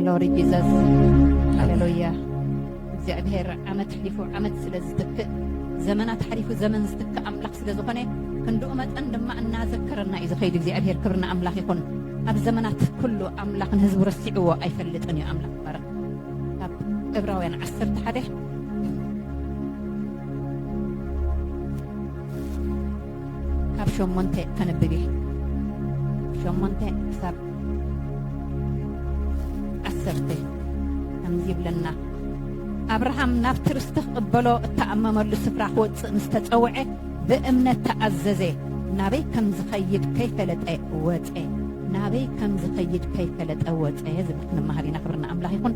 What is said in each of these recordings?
ግሎሪ ጂዘስ ሃሌሉያ እግዚኣብሔር ዓመት ሕሊፉ ዓመት ስለ ዝትክእ ዘመናት ሓሊፉ ዘመን ዝትክእ ኣምላኽ ስለ ዝኾነ ክንድኡ መጠን ድማ እናዘከረና እዩ ዝኸይድ እግዚኣብሔር ክብርና ኣምላኽ ይኹን ኣብ ዘመናት ኩሉ ኣምላኽ ንህዝቡ ረሲዕዎ ኣይፈልጥን እዩ ኣምላኽ ባረክ ካብ ዕብራውያን ዓሰርተ ሓደ ካብ ሸሞንተ ከንብብ እየ ሸሞንተ ክሳብ ዓሰርተ ከምዚ ይብለና ኣብርሃም ናብቲ ርስቲ ክቕበሎ እተኣመመሉ ስፍራ ክወፅእ ምስ ተፀውዐ ብእምነት ተኣዘዘ ናበይ ከም ዝኸይድ ከይፈለጠ ወፀ ናበይ ከም ዝኸይድ ከይፈለጠ ወፀ ዝብል ክንመሃር ኢና ክብርና ኣምላኽ ይኹን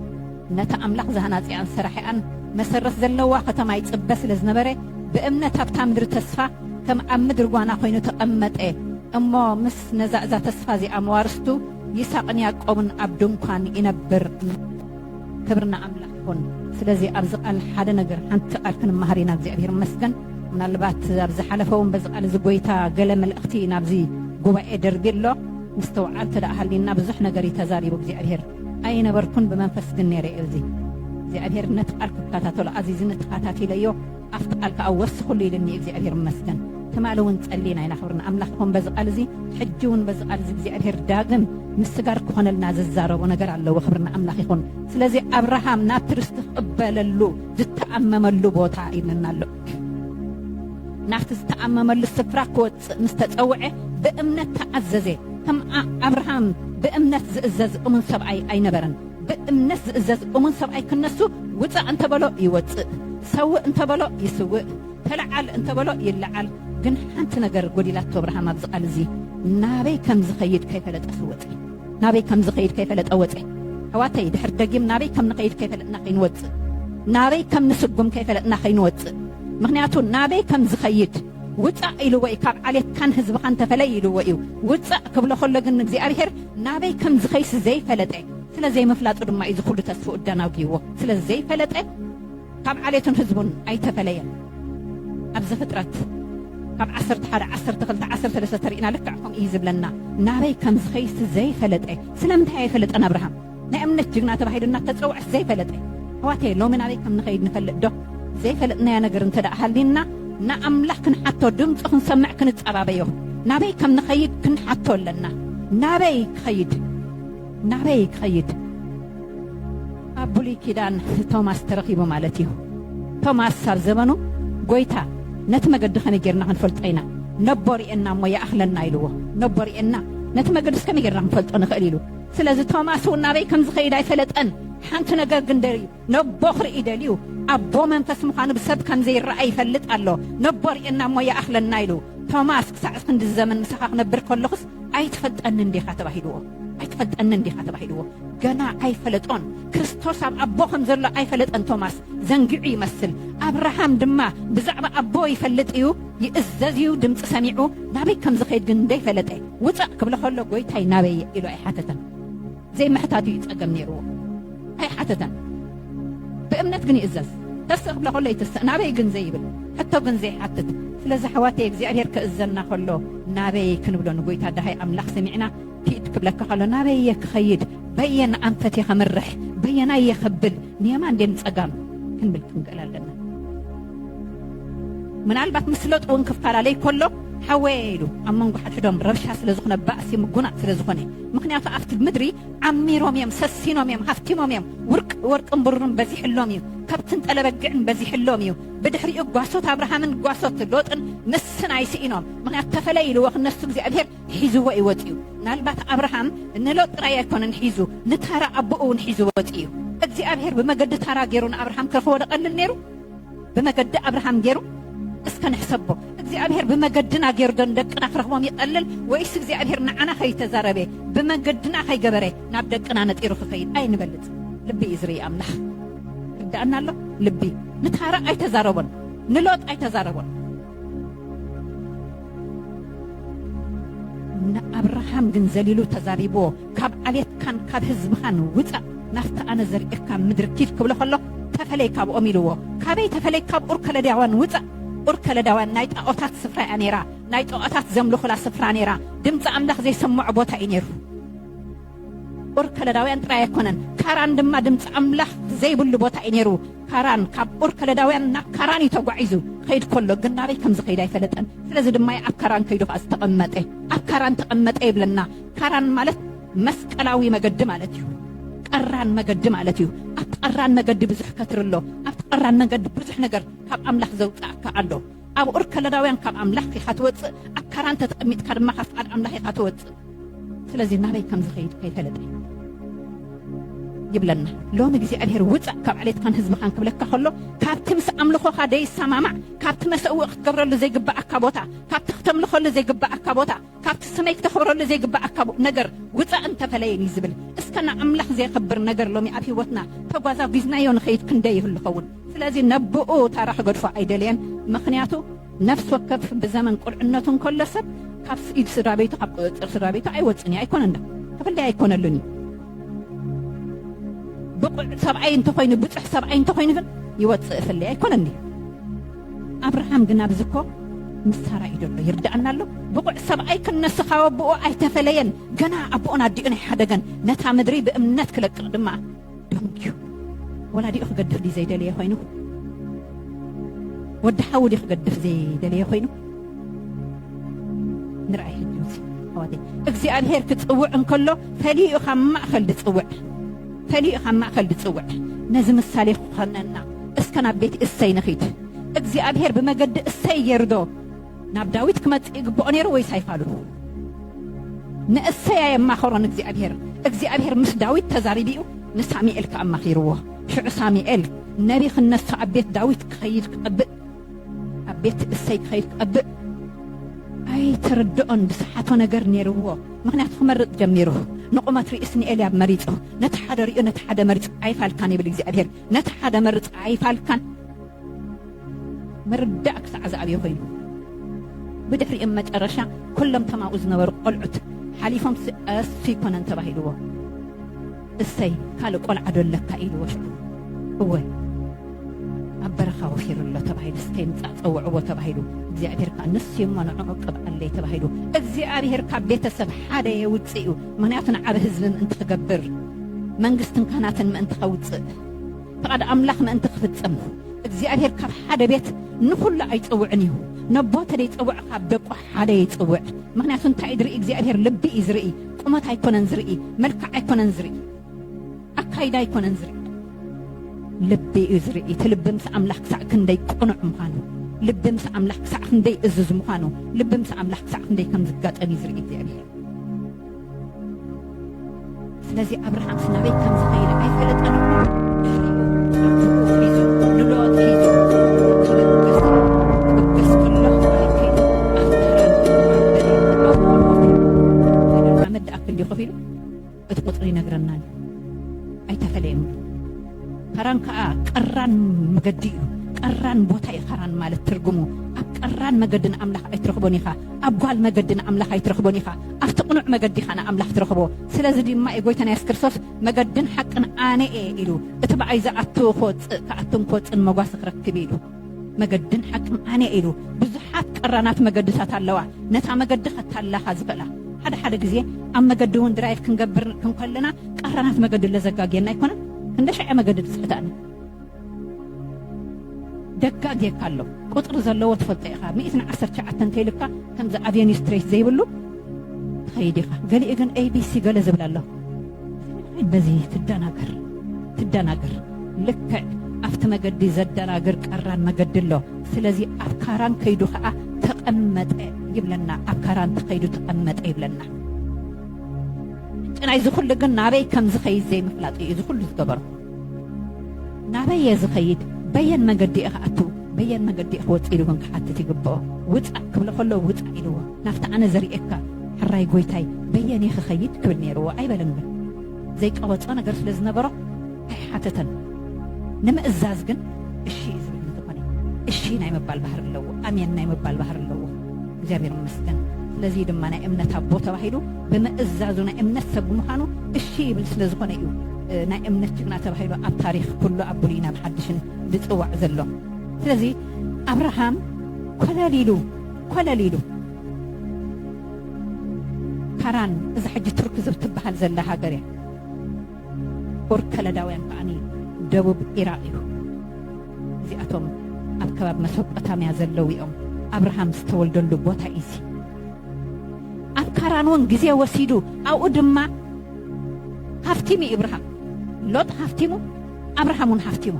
ነታ ኣምላኽ ዝሃናጽኣን ሰራሒኣን መሰረት ዘለዋ ከተማ ይጽበ ስለ ዝነበረ፣ ብእምነት ኣብታ ምድሪ ተስፋ ከም ኣብ ምድሪ ጓና ኰይኑ ተቐመጠ። እሞ ምስ ነዛ እዛ ተስፋ እዚኣ መዋርስቱ ይሳቕን ያእቆብን ኣብ ድንኳን ይነብር። ክብሪ ንኣምላኽ ይኹን። ስለዚ ኣብዚ ቃል ሓደ ነገር ሓንቲ ቃል ክንመሃር ኢና እግዚኣብሔር ይመስገን ምናልባት ኣብ ዝሓለፈ እውን በዚ ቃል እዚ ጎይታ ገለ መልእኽቲ ናብዚ ጉባኤ ደርቢ ኣሎ ምስተውዓል ተደኣ ሃሊና ብዙሕ ነገር እዩ ተዛሪቡ እግዚኣብሔር ኣይነበርኩን ብመንፈስ ግን ነይረ እዚ እግዚኣብሔር ነቲ ቃል ክከታተሎ ኣዚዝኒ ተኸታቲለዮ ኣብቲ ቃል ከዓ ወስኽሉ ኢልኒ እግዚኣብሔር ይመስገን ትማሊ እውን ጸሊና ኢና ክብርና ኣምላኽ ይኹን በዚ ቃል እዚ ሕጂ እውን በዚ ቃል እዚ እግዚኣብሔር ዳግም ምስጋር ክኾነልና ዝዛረቦ ነገር ኣለዎ ክብርና ኣምላኽ ይኹን ስለዚ ኣብርሃም ናብቲ ርስቲ ክቕበለሉ ዝተኣመመሉ ቦታ ይብለና ኣሎ ናብቲ ዝተኣመመሉ ስፍራ ክወጽእ ክመጽእ ምስ ተጸውዐ ብእምነት ተኣዘዘ። ከም ኣብርሃም ብእምነት ዝእዘዝ እሙን ሰብኣይ ኣይነበረን። ብእምነት ዝእዘዝ እሙን ሰብኣይ ክነሱ ውጻእ እንተ በሎ ይወጽእ፣ ሰውእ እንተ በሎ ይስውእ፣ ተለዓል እንተ በሎ ይለዓል። ግን ሓንቲ ነገር ጎዲላቶ ኣብርሃም ኣብዚ ቃል እዚ ናበይ ከም ዝኸይድ ከይፈለጠስ ወጸ። ናበይ ከም ዝኸይድ ከይፈለጠ ወጸ። ኣሕዋተይ ድሕር ደጊም ናበይ ከም ንኸይድ ከይፈለጥና ከይንወጽእ፣ ናበይ ከም ንስጉም ከይፈለጥና ከይንወጽእ። ምክንያቱ ናበይ ከም ዝኸይድ ውጻእ ኢልዎ እዩ ካብ ዓሌትካን ህዝብኻን ተፈለይ ኢልዎ እዩ ውጻእ ክብሎ ከሎ ግን ንእግዚኣብሔር ናበይ ከም ዝኸይሲ ዘይፈለጠ ስለ ዘይምፍላጡ ድማ እዩ ዝኹሉ ተስፍኡ ኣዳናጉይዎ ስለ ዘይፈለጠ ካብ ዓሌቱን ህዝቡን ኣይተፈለየን ኣብ ዘፍጥረት ካብ ዓሰርተ ሓደ ዓሰርተ ክልተ ዓሰርተ ሰለስተ ተሪእና ልክዕ ከምኡ እዩ ዝብለና ናበይ ከም ዝኸይሲ ዘይፈለጠ ስለምንታይ ኣይፈለጠን ኣብርሃም ናይ እምነት ጅግና ተባሂሉ እናተፀውዐስ ዘይፈለጠ ኣሕዋተየ ሎሚ ናበይ ከም ንኸይድ ንፈልጥ ዶ ዘይፈለጥናዮ ነገር እንተ ደኣ ሃልዩና ንኣምላኽ ክንሓቶ ድምፁ ክንሰምዕ ክንፀባበዮ ናበይ ከም ንኸይድ ክንሓቶ ኣለና ናበይ ክኸይድ ናበይ ክኸይድ ኣብ ብሉይ ኪዳን ቶማስ ተረኺቡ ማለት እዩ ቶማስ ኣብ ዘበኑ ጎይታ ነቲ መገዲ ከመይ ጌርና ክንፈልጦ ኢና ነቦ ርኤና እሞ ይኣኽለና ኢልዎ ነቦ ርኤና ነቲ መገድስ ከመይ ጌርና ክንፈልጦ ንኽእል ኢሉ ስለዚ ቶማስ እውን ናበይ ከም ዝኸይድ ኣይፈለጠን። ሓንቲ ነገር ግን ደልዩ ነቦ ክርኢ ደልዩ ኣቦ መንፈስ ምዃኑ ብሰብ ከም ዘይረኣ ይፈልጥ ኣሎ ነቦ ርእየና እሞ ይኣኽለና ኢሉ ቶማስ ክሳዕ ክንዲ ዘመን ምሳኻ ክነብር ከለኹስ ኣይትፈልጠንን ዲኻ ተባሂልዎ ኣይትፈልጠንን ዲኻ ተባሂልዎ ገና ኣይፈለጦን ክርስቶስ ኣብ ኣቦ ከም ዘሎ ኣይፈለጠን ቶማስ ዘንግዑ ይመስል ኣብርሃም ድማ ብዛዕባ ኣቦ ይፈልጥ እዩ ይእዘዝ እዩ ድምፂ ሰሚዑ ናበይ ከም ዝኸይድ ግን እንደይፈለጠ ውፃእ ክብሎ ከሎ ጎይታይ ናበይ እየ ኢሉ ኣይሓተተን ዘይምሕታቱ እዩ ፀገም ነይርዎ ኣይሓተተን ብእምነት ግን ይእዘዝ ተስእ ክብሎ ከሎ ይትስእ ናበይ ግን ዘይብል ሕቶ ግን ዘይሓትት ስለዚ ኣሕዋተይ እግዚኣብሄር ክእዘና ከሎ ናበይ ክንብሎ ንጎይታ ድሃይ ኣምላኽ ሰሚዕና ኪድ ክብለካ ከሎ ናበይ እየ ክኸይድ በየን ኣንፈት እየ ከምርሕ በየናይ እየ ከብል ንየማን ድም ፀጋም ክንብል ክንክእል ኣለና ምናልባት ምስለጥ እውን ክፈላለይ ከሎ ሓወየ ኢሉ ኣብ መንጎ ሓድሕዶም ረብሻ ስለ ዝኾነ ባእሲ ምጉናጥ ስለ ዝኾነ ምክንያቱ ኣብቲ ምድሪ ዓሚሮም እዮም ሰሲኖም እዮም ሃፍቲሞም እዮም ወርቅን ብሩርን በዚሕሎም እዩ ከብትን ጠለበግዕን በዚሕሎም እዩ ብድሕሪኡ ጓሶት ኣብርሃምን ጓሶት ሎጥን ንስን ኣይስኢኖም ምክንያቱ ተፈለይ ኢልዎ ክነሱ እግዚኣብሄር ሒዝዎ እዩ ወፅኡ ምናልባት ኣብርሃም ንሎጥ ጥራይ ኣይኮነን ሒዙ ንታራ ኣቦኡ እውን ሒዙ ወፅኡ እዩ እግዚኣብሄር ብመገዲ ታራ ገይሩ ንኣብርሃም ከክወደቀልል ነይሩ ብመገዲ ኣብርሃም ገይሩ እስከ ንሕሰቦ እግዚኣብሔር ብመገድና ገይሩ ዶ ንደቅና ክረኽቦም ይቐልል ወይስ እግዚኣብሔር ንዓና ከይተዛረበ ብመገድና ከይገበረ ናብ ደቅና ነጢሩ ክኸይድ ኣይንበልፅ ልቢ እዩ ዝርኢ ኣምላኽ ርዳእና ኣሎ ልቢ ንታራ ኣይተዛረቦን ንሎጥ ኣይተዛረቦን ንኣብርሃም ግን ዘሊሉ ተዛሪብዎ፣ ካብ ዓሌትካን ካብ ህዝብኻን ውጻእ፣ ናብቲ ኣነ ዘርእየካ ምድሪ ኪድ ክብሎ ከሎ፣ ተፈለይ ካብኦም ኢልዎ። ካበይ ተፈለይ? ካብ ኡር ከለዳውያን ውጻእ። ኡር ከለዳውያን ናይ ጣኦታት ስፍራ እያ ነይራ፣ ናይ ጣኦታት ዘምልኹላ ስፍራ ነይራ፣ ድምጺ ኣምላኽ ዘይሰምዖ ቦታ እዩ ነይሩ። ኡር ከለዳውያን ጥራይ ኣይኮነን፣ ካራን ድማ ድምጺ ኣምላኽ ዘይብሉ ቦታ እዩ ነይሩ። ካራን ካብ ኡር ከለዳውያን ናብ ካራን እዩ ተጓዒዙ። ክኸይድ ከሎ ግን ናበይ ከም ዝኸይድ ኣይፈለጠን። ስለዚ ድማ እዩ ኣብ ካራን ከይዱ ኸኣ ዝተቐመጠ። ኣብ ካራን ተቐመጠ ይብለና። ካራን ማለት መስቀላዊ መገዲ ማለት እዩ። ቀራን መገዲ ማለት እዩ። ኣብቲ ቀራን መገዲ ብዙሕ ከትሪ ኣሎ። ኣብቲ ቀራን መገዲ ብዙሕ ነገር ካብ ኣምላኽ ዘውጽኣካ ኣሎ። ኣብ ኡር ከለዳውያን ካብ ኣምላኽ ኢኻ ትወጽእ፣ ኣብ ካራን ተተቐሚጥካ ድማ ካብ ፍቓድ ኣምላኽ ኢኻ ትወጽእ። ስለዚ ናበይ ከም ዝኸይድ ከይፈለጠ ይብለና። ሎሚ እግዚኣብሔር ውጻእ ካብ ዓሌትካን ህዝብኻን ክብለካ ከሎ ካብቲ ምስ ኣምልኾኻ ደይሰማማዕ ካብቲ መሰውኢ ክትገብረሉ ዘይግብኣካ ቦታ ካብቲ ክተምልኸሉ ዘይግብኣካ ቦታ ካብቲ ስመይ ክተኽብረሉ ዘይግብኣካ ነገር ውጻእ እንተፈለየኒ ዝብል እስከ ንኣምላኽ ዘየኽብር ነገር ሎሚ ኣብ ህይወትና ተጓዛጒዝናዮ ንኸይድ ክንደይ ይህሉ ይኸውን? ስለዚ ነብኡ ታራ ክገድፎ ኣይደለየን ምኽንያቱ ነፍሲ ወከፍ ብዘመን ቁልዕነቱ እንከሎ ሰብ ካብ ኢድ ስድራቤቱ ካብ ቁጽጽር ስድራቤቱ ኣይወጽእን እዩ ኣይኮነን ክፍለይ ኣይኮነሉን እዩ ብቑዕ ሰብኣይ እንተኾይኑ ብጹሕ ሰብኣይ እንተኾይኑ ግን ይወጽእ ፍለይ ኣይኮነን እዩ ኣብርሃም ግን ኣብዚ እኮ ምስ ሳራ እዩ ዘሎ ይርዳኣና ኣሎ ብቑዕ ሰብኣይ ክነሱ ካብ ኣቦኡ ኣይተፈለየን ገና ኣቦኡን ኣዲኡን ኣይሓደገን ነታ ምድሪ ብእምነት ክለቅቕ ድማ ደንጊዩ ወላዲኡ ክገድፍ ድዩ ዘይደለየ ኮይኑ ወዲ ሓዊ ድዩ ክገድፍ ዘይደለየ ኮይኑ ንርኣይ ሕጂ ኣሕዋተይ እግዚኣብሄር ክፅውዕ እንከሎ ፈሊዩ ካብ ማእኸል ዝፅውዕ ፈሊዩ ኻብ ማእከል ዚጽውዕ ነዚ ምሳሌ ኺዀነና፣ እስከ ናብ ቤት እሴይ ንኺድ። እግዚኣብሄር ብመገዲ እሴይ ገይሩዶ ናብ ዳዊት ኪመጽእ ይግብኦ ነይሩ ወይስ ኣይፋሉን? ንእሴይ ኣየማኸሮን እግዚኣብሄር። እግዚኣብሄር ምስ ዳዊት ተዛሪቡ እዩ፣ ንሳሙኤል ከኣ ኣማኺርዎ። ሽዑ ሳሙኤል ነብዪ ኺነሣ ኣብ ቤት ዳዊት ኪኸይድ ኪጠብቅ፣ ኣብ ቤት እሰይ ክኸይድ ክቐብእ ኣይተረድኦን ብስሓቶ ነገር ነይርዎ ምክንያቱ ክመርፅ ጀሚሩ ንቑመት ርእስ ንኤልያብ መሪፁ ነቲ ሓደ ሪኡ ነቲ ሓደ መሪፅ ኣይፋልካን ይብል እግዚኣብሔር ነቲ ሓደ መርፅ ኣይፋልካን ምርዳእ ክሳዕ ዝኣብዮ ኮይኑ ብድሕሪኦም መጨረሻ ኩሎም ተማኡ ዝነበሩ ቆልዑት ሓሊፎም ቀስ ይኮነን ተባሂልዎ እሰይ ካልእ ቆልዓ ዶ ኣለካ ኢልዎ ሽዑ እወ ኣብ በረኻ ወፊሩ ኣሎ ተባሂሉስ ከይምጻእ ጸውዕዎ ተባሂሉ እግዚኣብሄር ከኣ ንሱ እሞ ንዕዑ ቅብኣለይ ተባሂሉ እግዚኣብሄር ካብ ቤተሰብ ሓደ የውጽእ እዩ ምክንያቱ ንዓብ ህዝቢ ምእንቲ ክገብር መንግስትን ካህናትን ምእንቲ ከውጽእ ፍቓድ ኣምላኽ ምእንቲ ክፍጽም እግዚኣብሄር ካብ ሓደ ቤት ንኹሉ ኣይጸውዕን እዩ ነቦ ተደይጸውዕ ካብ ደቁ ሓደ ይጽውዕ ምክንያቱ እንታይ ዝርኢ እግዚኣብሔር ልቢ እዩ ዝርኢ ቁመት ኣይኮነን ዝርኢ መልክዕ ኣይኮነን ዝርኢ ኣካይዳ ኣይኮነን ዝርኢ ልቢ እዩ ዝርኢ እቲ ልቢ ምስ ኣምላኽ ክሳዕ ክንደይ ቅኑዕ ምዃኑ ልቢ ምስ ኣምላኽ ክሳዕ ክንደይ እዙዝ ምዃኑ ልቢ ምስ ኣምላኽ ክሳዕ ክንደይ ከም ዝጋጠም እዩ ዝርኢ እግዚኣብሔር ስለዚ ኣብርሃምስ ናበይ ከም ዝኸይድ ኣይፈለጠን እሞ ንሎጥ ሒዙ ክብገስ ክብገስ ከሎ ማይ ከይዱ ኣብ ካራን ኣብ በሪን ኣብ ሓመድ ድኣ ክንዲ ኮፍ ኢሉ እቲ ቁፅሪ ይነግረና ኣሎ ኣይተፈለየን ከራን ከኣ ቀራን መገዲ እዩ። ቀራን ቦታ እዩ ከራን ማለት ትርጉሙ። ኣብ ቀራን መገዲ ንኣምላኽ ኣይትረኽቦን ኢኻ። ኣብ ጓል መገዲ ንኣምላኽ ኣይትረኽቦን ኢኻ። ኣብቲ ቅኑዕ መገዲ ኢኻ ንኣምላኽ ትረኽቦ። ስለዚ ድማ እዩ ጎይታና የሱስ ክርስቶስ መገድን ሓቅን ኣነ እየ ኢሉ። እቲ ብኣይ ዝኣቱ ክወጽእ ክኣቱን ክወጽእን መጓሰ ክረክብ እዩ ኢሉ። መገድን ሓቅን ኣነ'የ ኢሉ ብዙሓት ቀራናት መገድታት ኣለዋ ነታ መገዲ ከታልላኻ ዝኽእላ። ሓደ ሓደ ግዜ ኣብ መገዲ እውን ድራይቭ ክንገብር ክንከለና ቀራናት መገዲ ለዘጋግየና ኣይኮነን ክንደሻዕ'የ መገዲ ድጽሕታኒ ደጋግየካ ኣሎ ቁጽሪ ዘለዎ ትፈልጦ ኢኻ ሚእቲ ንዓሰርተ ትሽዓተ እንተይልካ ከምዚ ኣቬንዩ ስትሬት ዘይብሉ ትኸይድ ኢኻ ገሊኡ ግን ኤቢሲ ገለ ዝብል ኣሎ በዚ ትደናገር ትደናገር ልክዕ ኣብቲ መገዲ ዘደናግር ቀራን መገዲ ኣሎ ስለዚ ኣብ ካራን ከይዱ ከዓ ተቐመጠ ይብለና ኣብ ካራን ተኸይዱ ተቐመጠ ይብለና ጭናይ እዚ ኩሉ ግን ናበይ ከም ዝኸይድ ዘይምፍላጥ እዩ እዚ ኩሉ ዝገበሮ ናበይ እየ ዝኸይድ በየን መገዲ እየ ክኣቱ በየን መገዲ እየ ክወፅ ኢሉ እውን ክሓትት ይግብኦ ውፃእ ክብሎ ከሎ ውፃእ ኢልዎ ናብቲ ኣነ ዘርእየካ ሕራይ ጎይታይ በየንየ ክኸይድ ክብል ነይርዎ ኣይበለን ግን ዘይቀበጾ ነገር ስለ ዝነበሮ ኣይሓተተን ንምእዛዝ ግን እሺ እዩ ዝብል እንተኾነ እሺ ናይ ምባል ባህሪ ኣለዎ ኣሜን ናይ ምባል ባህሪ ኣለዎ እግዚኣብሔር ይመስገን ስለዚ ድማ ናይ እምነት ኣቦ ተባሂሉ ብምእዛዙ ናይ እምነት ሰብ ምዃኑ እሺ ይብል ስለ ዝኾነ እዩ ናይ እምነት ጅግና ተባሂሉ ኣብ ታሪክ ኩሉ ኣብ ብሉይ ናብ ሓድሽን ዝፅዋዕ ዘሎ ስለዚ ኣብርሃም ኮለል ኢሉ ኮለል ኢሉ ካራን እዛ ሕጂ ቱርኪ ዝብትበሃል ዘላ ሃገር እያ ኡር ከለዳውያን ከዓኒ ደቡብ ኢራቅ እዩ እዚኣቶም ኣብ ከባቢ መሶጶታምያ ዘለዉ እዮም ኣብርሃም ዝተወልደሉ ቦታ እዩ እዚ ኣብ ካራን እውን ግዜ ወሲዱ ኣብኡ ድማ ሃፍቲሙ እዩ እብርሃም ሎጥ ሃፍቲሙ ኣብርሃም እውን ሃፍቲሙ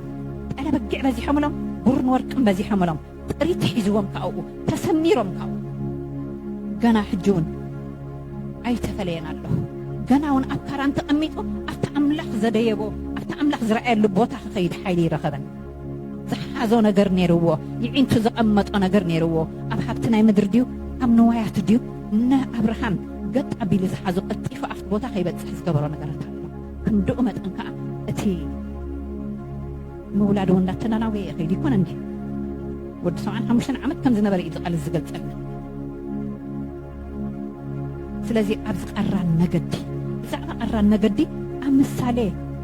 ጠለበጊዕ በዚሖምሎም ቡርን ወርቅን በዚሖምሎም ጥሪት ሒዝዎም ካብኡ ተሰሚሮም ካብኡ ገና ሕጂ እውን ኣይተፈለየን ኣለኹ ገና እውን ኣብ ካራን ተቐሚጡ ኣብቲ ኣምላኽ ዘደየቦ ኣብቲ ኣምላኽ ዝረኣየሉ ቦታ ክኸይድ ሓይሊ ይረኸበን ዝሓዞ ነገር ነይርዎ ይዒንቱ ዘቐመጦ ነገር ነይርዎ ኣብ ሃብቲ ናይ ምድሪ ድዩ ኣብ ንዋያቱ ድዩ ንኣብርሃም ገጥ ኣቢሉ ዝሓዞ ቀልጢፉ ኣብቲ ቦታ ከይበፅሕ ዝገበሮ ነገራት ኣሎ ክንድኡ መጠን ከዓ እቲ ምውላድ እውን እንዳተናናወየ ይኸይድ ይኮነ እንድዩ ወዲ ሰብዓን ሓሙሽተን ዓመት ከም ዝነበረ እዩ ቃልስ ዝገልጸልና ስለዚ ኣብዚ ቃራን መገዲ ብዛዕባ ቃራን መገዲ ኣብ ምሳሌ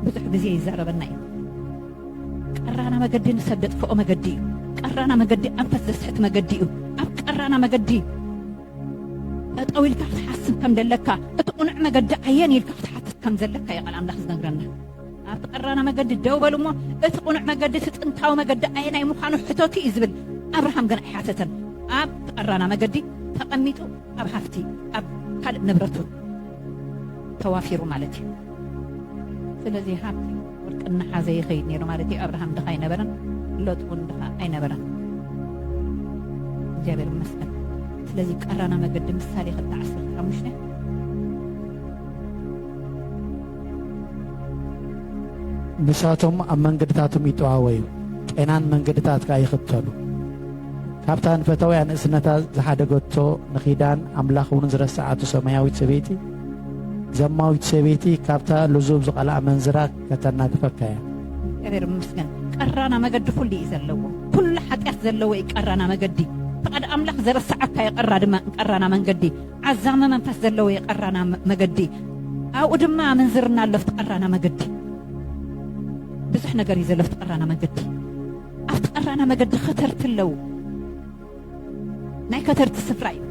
ብዙሕ ግዜ ይዛረበና እዩ ቀራና መገዲ ንሰብ ደጥፍኦ መገዲ እዩ ቀራና መገዲ ኣንፈት ዘስሕት መገዲ እዩ ኣብ ቀራና መገዲ ጠጠው ኢልካ ክትሓስብ ከም ደለካ እቲ ቁኑዕ መገዲ ኣየን ኢልካ ክትሓትት ከም ዘለካ እዩ ቃል ኣምላኽ ዝነግረና ኣብቲ ቀራና መገዲ ደው በሉ እሞ እቲ ቁኑዕ መገዲ እቲ ጥንታዊ መገዲ ኣየናይ ምዃኑ ሕተቱ እዩ ዝብል ኣብርሃም ግን ኣይሓተተን ኣብቲ ቀራና መገዲ ተቐሚጡ ኣብ ሃፍቲ ኣብ ካልእ ንብረቱ ተዋፊሩ ማለት እዩ ስለዚ ሃብቲ ወርቂ እናሓዘ ይኸይድ ነይሩ ማለት እዩ ኣብርሃም ድኻ ኣይነበረን ሎጥ እውን ድኻ ኣይነበረን እግዚኣብሔር ይመስገን ስለዚ ቀራና መገዲ ምሳሌ ክልተ ዓሰርተ ሓሙሽተ ንሳቶም ኣብ መንገድታቶም ይጠዋወዩ፣ ቄናን መንገድታት ከኣ ይኽተሉ። ካብታ ንፈታውያ ንእስነታ ዝሓደገቶ ንኪዳን ኣምላኽ እውን ዝረሰዓቶ ሰማያዊት ሰበይቲ ዘማዊት ሰበይቲ ካብታ ልዙብ ዝቐልኣ ኣመንዝራ ከተናግፈካ እያ። እግዚኣብሔር ይመስገን ቀራና መገዲ ኩሉ እዩ ዘለዎ ኩሉ ሓጢኣት ዘለዎ እዩ ቀራና መገዲ ፍቃድ ኣምላኽ ዘረሰዓካ እዩ ቀራ ድማ ቀራና መንገዲ ዓዛሚ መንፈስ ዘለዎ የቀራና መገዲ ኣብኡ ድማ ኣመንዝርና ኣሎ ኣብቲ ቀራና መገዲ ብዙሕ ነገር እዩ ዘሎ ኣብቲ ቀራና መገዲ ኣብቲ ቀራና መገዲ ከተርቲ ኣለዉ ናይ ከተርቲ ስፍራ እዩ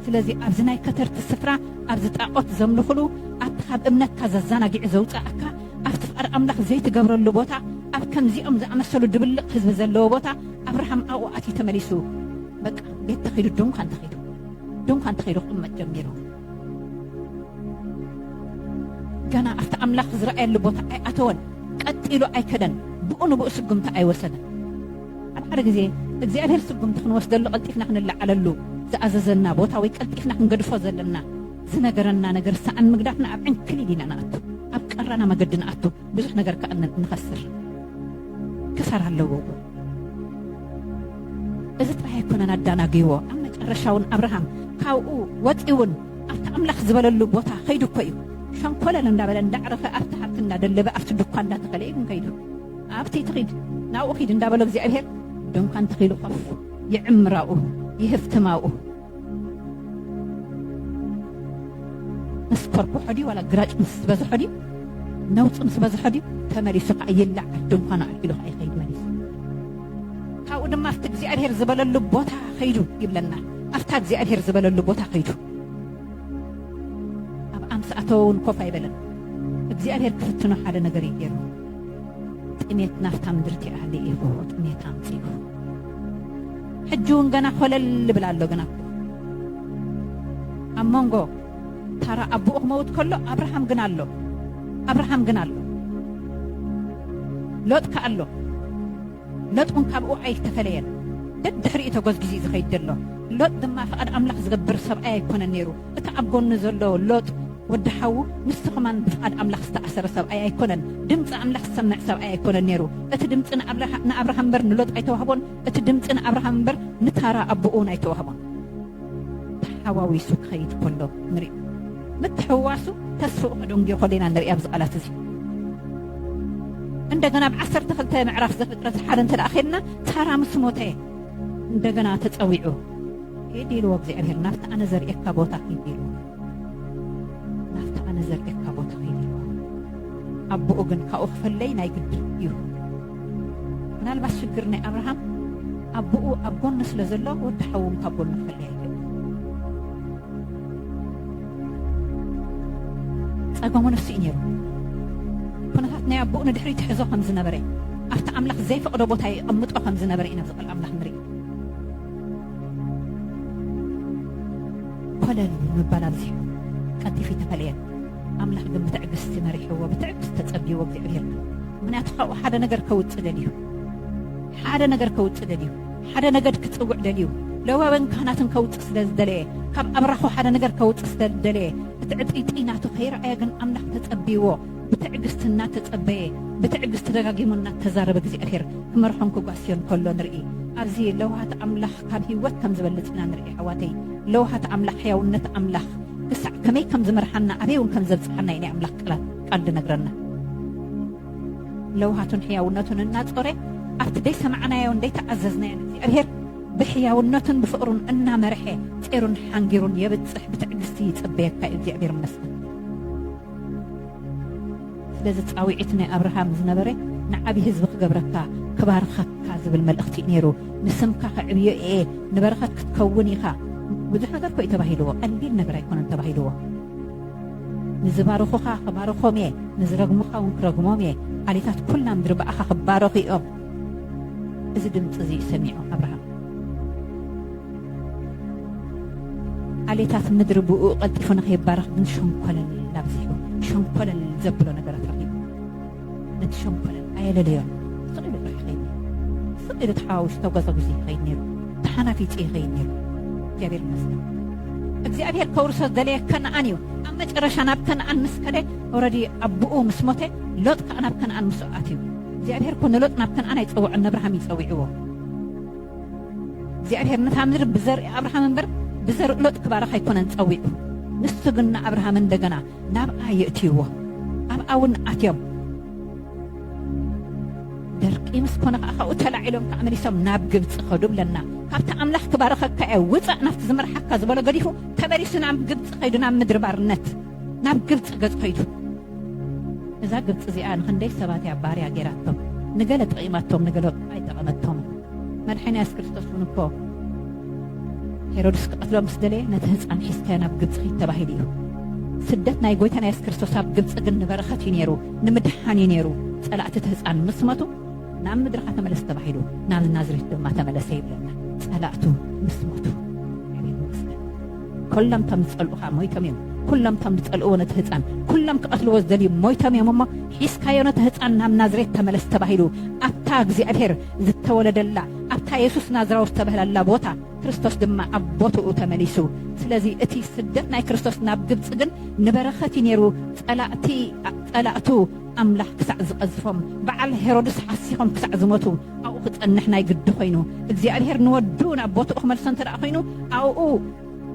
ስለዚ ኣብዚ ናይ ከተርቲ ስፍራ ኣብዚ ጣዖት ዘምልኽሉ ኣብቲ ካብ እምነትካ ዘዘናጊዑ ዘውፅኣካ ኣብቲ ፍቃድ ኣምላኽ ዘይትገብረሉ ቦታ ኣብ ከምዚኦም ዝኣመሰሉ ድብልቕ ህዝቢ ዘለዎ ቦታ ኣብርሃም ኣብኡ ኣትዩ ተመሊሱ በቃ ቤት ተኺዱ ድንኳን ተኺዱ ድንኳን ተኸይዱ ክቕመጥ ጀሚሩ ገና ኣብቲ ኣምላኽ ዝረኣየሉ ቦታ ኣይኣተወን ቀጢሉ ኣይከደን ብኡ ንብኡ ስጉምቲ ኣይወሰደን ኣብ ሓደ ግዜ እግዚኣብሔር ስጉምቲ ክንወስደሉ ቀልጢፍና ክንለዓለሉ ዝኣዘዘና ቦታ ወይ ቀልጢፍና ክንገድፎ ዘለና ዝነገረና ነገር ሰኣን ምግዳፍና ኣብ ዕንክሊል ኢና ንኣቱ ኣብ ቀራና መገዲ ንኣቱ ብዙሕ ነገር ከዓ ንኸስር ክሳራ ኣለዎ እዚ ጥራይ ኣይኮነን ኣዳናግይዎ ኣብ መጨረሻውን ኣብርሃም ካብኡ ወፂውን ኣብቲ ኣምላኽ ዝበለሉ ቦታ ከይዱ እኮ እዩ ሸንኮለል እንዳበለ እንዳዕረፈ ኣብቲ ሃብቲ እንዳደለበ ኣብቲ ድኳ እንዳተኸለ እዩ ግን ከይዱ ኣብቲ ትኺድ ናብኡ ኺድ እንዳበሎ እግዚኣብሔር ድንኳን ተኺሉ ኮፍ ይዕምራኡ ይህፍትማኡ ምስ ኮርኮሖ ድዩ ዋላ ግራጭ ምስ ዝበዝሖ ድዩ ነውፂ ምስ በዝሖ ድዩ ተመሊሱ ከዓ ይላዕ ድንኳኑ ኣልዒሉ ከዓ ይኸይድ መሊሱ ካብኡ ድማ ኣብቲ እግዚኣብሄር ዝበለሉ ቦታ ከይዱ ይብለና ኣብታ እግዚኣብሄር ዝበለሉ ቦታ ከይዱ ኣብ ኣምስ ኣተወ እውን ኮፍ ኣይበለን እግዚኣብሄር ክፍትኖ ሓደ ነገር እዩ ገይሩ ጥሜት ናፍታ ምድርቲ ኣለ ኢኹ ጥሜት ኣምፂኡ ሕጂ እውን ገና ኮለል ይብል ኣሎ ግና ኣብ መንጎ ታራ ኣቦኡ ክመውት ከሎ ኣብርሃም ግን ኣሎ ኣብርሃም ግን ኣሎ ሎጥ ከ ኣሎ ሎጥ እውን ካብኡ ኣይተፈለየን ደድሕሪኡ ተጎዝጊዙ እዩ ዝኸይድ ዘሎ ሎጥ ድማ ፍቓድ ኣምላኽ ዝገብር ሰብኣይ ኣይኮነን ነይሩ እቲ ኣብ ጎኑ ዘሎ ሎጥ ወዲ ሓዉ ምስቲ ኸማን ብፍቓድ ኣምላኽ ዝተኣሰረ ሰብኣይ ኣይኮነን። ድምጺ ኣምላኽ ዝሰምዕ ሰብኣይ ኣይኮነን ነይሩ። እቲ ድምጺ ንኣብርሃም እምበር ንሎጥ ኣይተዋህቦን፣ እቲ ድምጺ ንኣብርሃም እምበር ንታራ ኣቦኡ እውን ኣይተዋህቦን። ተሓዋዊሱ ክኸይድ ከሎ ንሪኦ። ምትሕውዋሱ ተስፍኡ ከደንጉዮ ከሎ ኢና ንርኢ ኣብዚ ቃላት እዚ። እንደገና ኣብ ዓሰርተ ክልተ ምዕራፍ ዘፍጥረት ሓደ እንተ ኸድና ታራ ምስ ሞተ እንደገና ተጸዊዑ ኪድ ኢልዎ እግዚኣብሄር ናብቲ ኣነ ዘርእየካ ቦታ ኪድ ኢልዎ ናብቲ ኣነ ዘርእየካ ቦታ ኪድ ኢልዎ ኣቦኡ ግን ካብኡ ክፍለይ ናይ ግድን እዩ ምናልባት ሽግር ናይ ኣብርሃም ኣቦኡ ኣብ ጎኑ ስለ ዘሎ ወዲ ሓዉ እውን ካብ ጎኑ ክፍለይ ኣይግድን ጸገሙ ንሱ እዩ ነይሩ ኩነታት ናይ ኣቦኡ ንድሕሪ ትሕዞ ከም ዝነበረ ኣብቲ ኣምላኽ ዘይፈቕዶ ቦታ የቐምጦ ከም ዝነበረ ኢና ዝቐል ኣምላኽ ንርኢ ኮለል ምባል ኣብዚሑ ቀልጢፉ ኣይተፈለየን ኣምላኽ ግን ብትዕግስቲ መሪሕዎ ብትዕግስቲ ተጸብይዎ እግዚኣብሄር ምኽንያቱ ካብኡ ሓደ ነገር ከውጽእ ደልዩ ሓደ ነገር ከውጽእ ደልዩ ሓደ ነገድ ክጽውዕ ደልዩ ለዋውያን ካህናትን ከውጽእ ስለ ዝደለየ ካብ ኣብራኹ ሓደ ነገር ከውጽእ ስለ ዝደለየ እቲ ዕጥይጥይ ናቱ ከይረኣየ ግን ኣምላኽ ተጸብይዎ ብትዕግስቲ እናተጸበየ፣ ብትዕግስቲ ደጋጊሙ እናተዛረበ እግዚኣብሄር ክመርሖን ክጓስዮን ከሎ ንርኢ። ኣብዚ ለውሃት ኣምላኽ ካብ ህይወት ከም ዝበልጽ ኢና ንርኢ። ኣሕዋተይ ለውሃት ኣምላኽ ሕያውነት ኣምላኽ ክሳዕ ከመይ ከም ዝመርሓና ኣበይ እውን ከም ዘብጽሓና እዩ ናይ ኣምላኽ ቃላት ቃል ዝነግረና። ለውሃቱን ሕያውነቱን እናጾረ ኣብቲ ዘይሰማዕናዮን ዘይተኣዘዝናዮን እግዚኣብሄር ብሕያውነቱን ብፍቕሩን እናመርሐ ጼሩን ሓንጊሩን የብጽሕ ብትዕግስቲ ይጽበየካ እዩ። እግዚኣብሄር ይመስገን። ስለዚ ጻዊዒት ናይ ኣብርሃም ዝነበረ ንዓቢ ህዝቢ ክገብረካ ክባርኸካ ዝብል መልእኽቲ እዩ ነይሩ ንስምካ ከዕብዮ እየ ንበረኸት ክትከውን ኢኻ ብዙሕ ነገር እኮ እዩ ተባሂልዎ ቀሊል ነገር ኣይኮነን ተባሂልዎ ንዝባርኹኻ ክባርኾም እየ ንዝረግሙኻ እውን ክረግሞም እየ ዓሌታት ኩላ ምድሪ ብኣኻ ክባረኹ እዮም እዚ ድምፂ እዚ እዩ ሰሚዑ ኣብርሃም ዓሌታት ምድሪ ብእኡ ቀልጢፉ ንኸይባረኽ ግን ሸንኮለል ኣብዚሑ ሸንኮለል ዘብሎ ነገራት ረኺቡ ነቲ ሸንኮለል ኣየለለዮን ስቕ ኢሉ ጥራሕ ይኸይድ ነይሩ ስቕ ኢሉ ተሓዋዊሱ ተጓዛጒዙ ይኸይድ ነይሩ ተሓናፊጹ ይኸይድ ነይሩ እግዚኣብሔር ይመስገን እግዚኣብሔር ከውርሶ ዝደለየ ከነኣን እዩ ኣብ መጨረሻ ናብ ከነኣን ምስ ከደ ኦረዲ ኣቦኡ ምስ ሞተ ሎጥ ከዓ ናብ ከነኣን ምስኡ ኣትዩ እግዚኣብሔር ኮ ንሎጥ ናብ ከነኣን ኣይፀውዖን ነብርሃም እዩ ፀዊዕዎ እግዚኣብሔር ነታ ምድሪ ብዘርኢ ኣብርሃም እምበር ብዘርኢ ሎጥ ክባርኽ ኣይኮነን ጸዊዑ። ንሱ ግን ንኣብርሃም እንደገና ናብኣ የእትይዎ። ኣብኣ እውን ኣትዮም ደርቂ ምስ ኮነ ከዓ ካብኡ ተላዒሎም ከዓ መሊሶም ናብ ግብፂ ከዱ ብለና ካብቲ ኣምላኽ ክባርኸካ እየ ውፃእ ናብቲ ዝመርሓካ ዝበሎ ገዲፉ ተመሊሱ ናብ ግብፂ ከይዱ ናብ ምድሪ ባርነት ናብ ግብጺ ገጽ ከይዱ እዛ ግብጺ እዚኣ ንክንደይ ሰባት እያ ባርያ ጌራቶም ንገለ ጠቒማቶም ንገለ ኣይጠቐመቶም መድሓኒ የሱስ ክርስቶስ እውን እኮ ሄሮድስ ክቐትሎ ምስ ደለየ ነቲ ህፃን ሒዝካዮ ናብ ግብፂ ኺድ ተባሂሉ እዩ ስደት ናይ ጎይታና የሱስ ክርስቶስ ኣብ ግብፂ ግን ንበረኸት እዩ ነይሩ ንምድሓን እዩ ነይሩ ጸላእቲ እቲ ህፃን ምስ መቱ ናብ ምድርኻ ተመለስ ተባሂሉ ናብ ናዝሬት ድማ ተመለሰ ይብለና ጸላእቱ ምስ መቱ ኩሎም እቶም ዝጸልኡኻ ሞይቶም እዮም ኩሎም እቶም ዝጸልእዎ ነቲ ህፃን ኩሎም ክቐትልዎ ዝደልዩ ሞይቶም እዮም እሞ ሒዝካዮ ነቲ ህፃን ናብ ናዝሬት ተመለስ ተባሂሉ ኣብታ እግዚኣብሔር ዝተወለደላ ኣብታ የሱስ ናዝራዊ ዝተበህላላ ቦታ ክርስቶስ ድማ ኣብ ቦትኡ ተመሊሱ ስለዚ እቲ ስደት ናይ ክርስቶስ ናብ ግብፂ ግን ንበረኸት እዩ ነይሩ ፀላእቱ ኣምላኽ ክሳዕ ዝቀዝፎም በዓል ሄሮድስ ሓሲኾም ክሳዕ ዝሞቱ ኣብኡ ክጸንሕ ናይ ግዲ ኮይኑ እግዚኣብሔር ንወዱ ናብ ቦትኡ ክመልሶ እንተ ኮይኑ ኣብኡ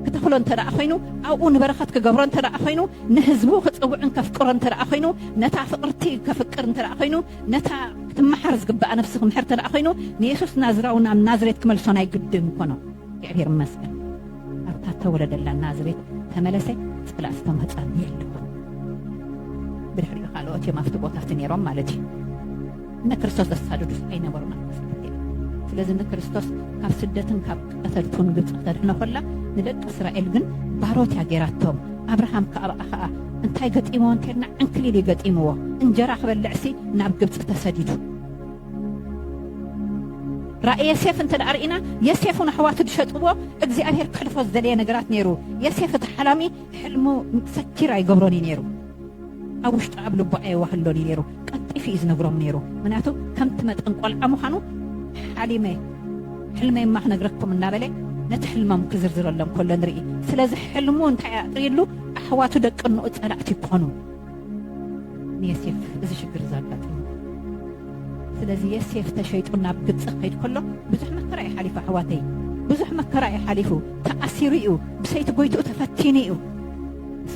ክተኽሎ እንተ ኮይኑ ኣብኡ ንበረኸት ክገብሮ እንተ ኮይኑ ንህዝቡ ክጽውዕን ከፍቅሮ እንተ ኮይኑ ነታ ፍቅርቲ ከፍቅር እንተ ኮይኑ ነታ ክትመሓር ዝግባኣ ነፍሲ ክምሕር እንተ ኮይኑ ንየሱስ ናዝራዊ ናብ ናዝሬት ክመልሶ ናይ ግዲ ምኮኖ እግዚኣብሔር ይመስገን ኣብታ ተወለደላ ናዝሬት ተመለሰ ጸላእ ዝተምህጸኒ የለኹን ብድሕሪኡ ካልኦት እዮም ኣብቲ ቦታ እቲ ነይሮም ማለት እዩ ንክርስቶስ ዘሳድዱስ ኣይነበሩን ኣብ ስደት እዮም ስለዚ ንክርስቶስ ካብ ስደትን ካብ ቀተልቱን ግብፂ ክተድሕኖ ከላ ንደቂ እስራኤል ግን ባሮት እያ ገይራቶም ኣብርሃም ከኣብኣ ከዓ እንታይ ገጢምዎ እንተልና ዕንክሊል እዩ ገጢምዎ እንጀራ ክበልዕሲ ናብ ግብፂ ተሰዲዱ ራእይ የሴፍ እንተ ርእና የሴፍን ኣሕዋቱ ዝሸጥዎ እግዚኣብሔር ክሕልፎ ዝደለየ ነገራት ነይሩ የሴፍ እቲ ሓላሚ ሕልሙ ሰኪር ኣይገብሮን እዩ ነይሩ ኣብ ውሽጡ ኣብ ልቡ ኣየዋህሎን እዩ ነይሩ ቀልጢፉ እዩ ዝነግሮም ነይሩ ምክንያቱ ከምቲ መጠን ቆልዓ ምዃኑ ሓሊመ ሕልመይ እማ ክነግረኩም እናበለ ነቲ ሕልሞም ክዝርዝረሎም ከሎ ንርኢ ስለዚ ሕልሙ እንታይ ኣጥርይሉ ኣሕዋቱ ደቂ እንኡ ጸላእቲ ይኮኑ ንየሴፍ እዚ ሽግር እዚ ኣጋጢሙ ስለዚ የሴፍ ተሸይጡ ናብ ግብፂ ክኸይድ ከሎ ብዙሕ መከራ እዩ ሓሊፉ ኣሕዋተይ ብዙሕ መከራ እዩ ሓሊፉ ተኣሲሩ እዩ ብሰይቲ ጎይትኡ ተፈቲኑ እዩ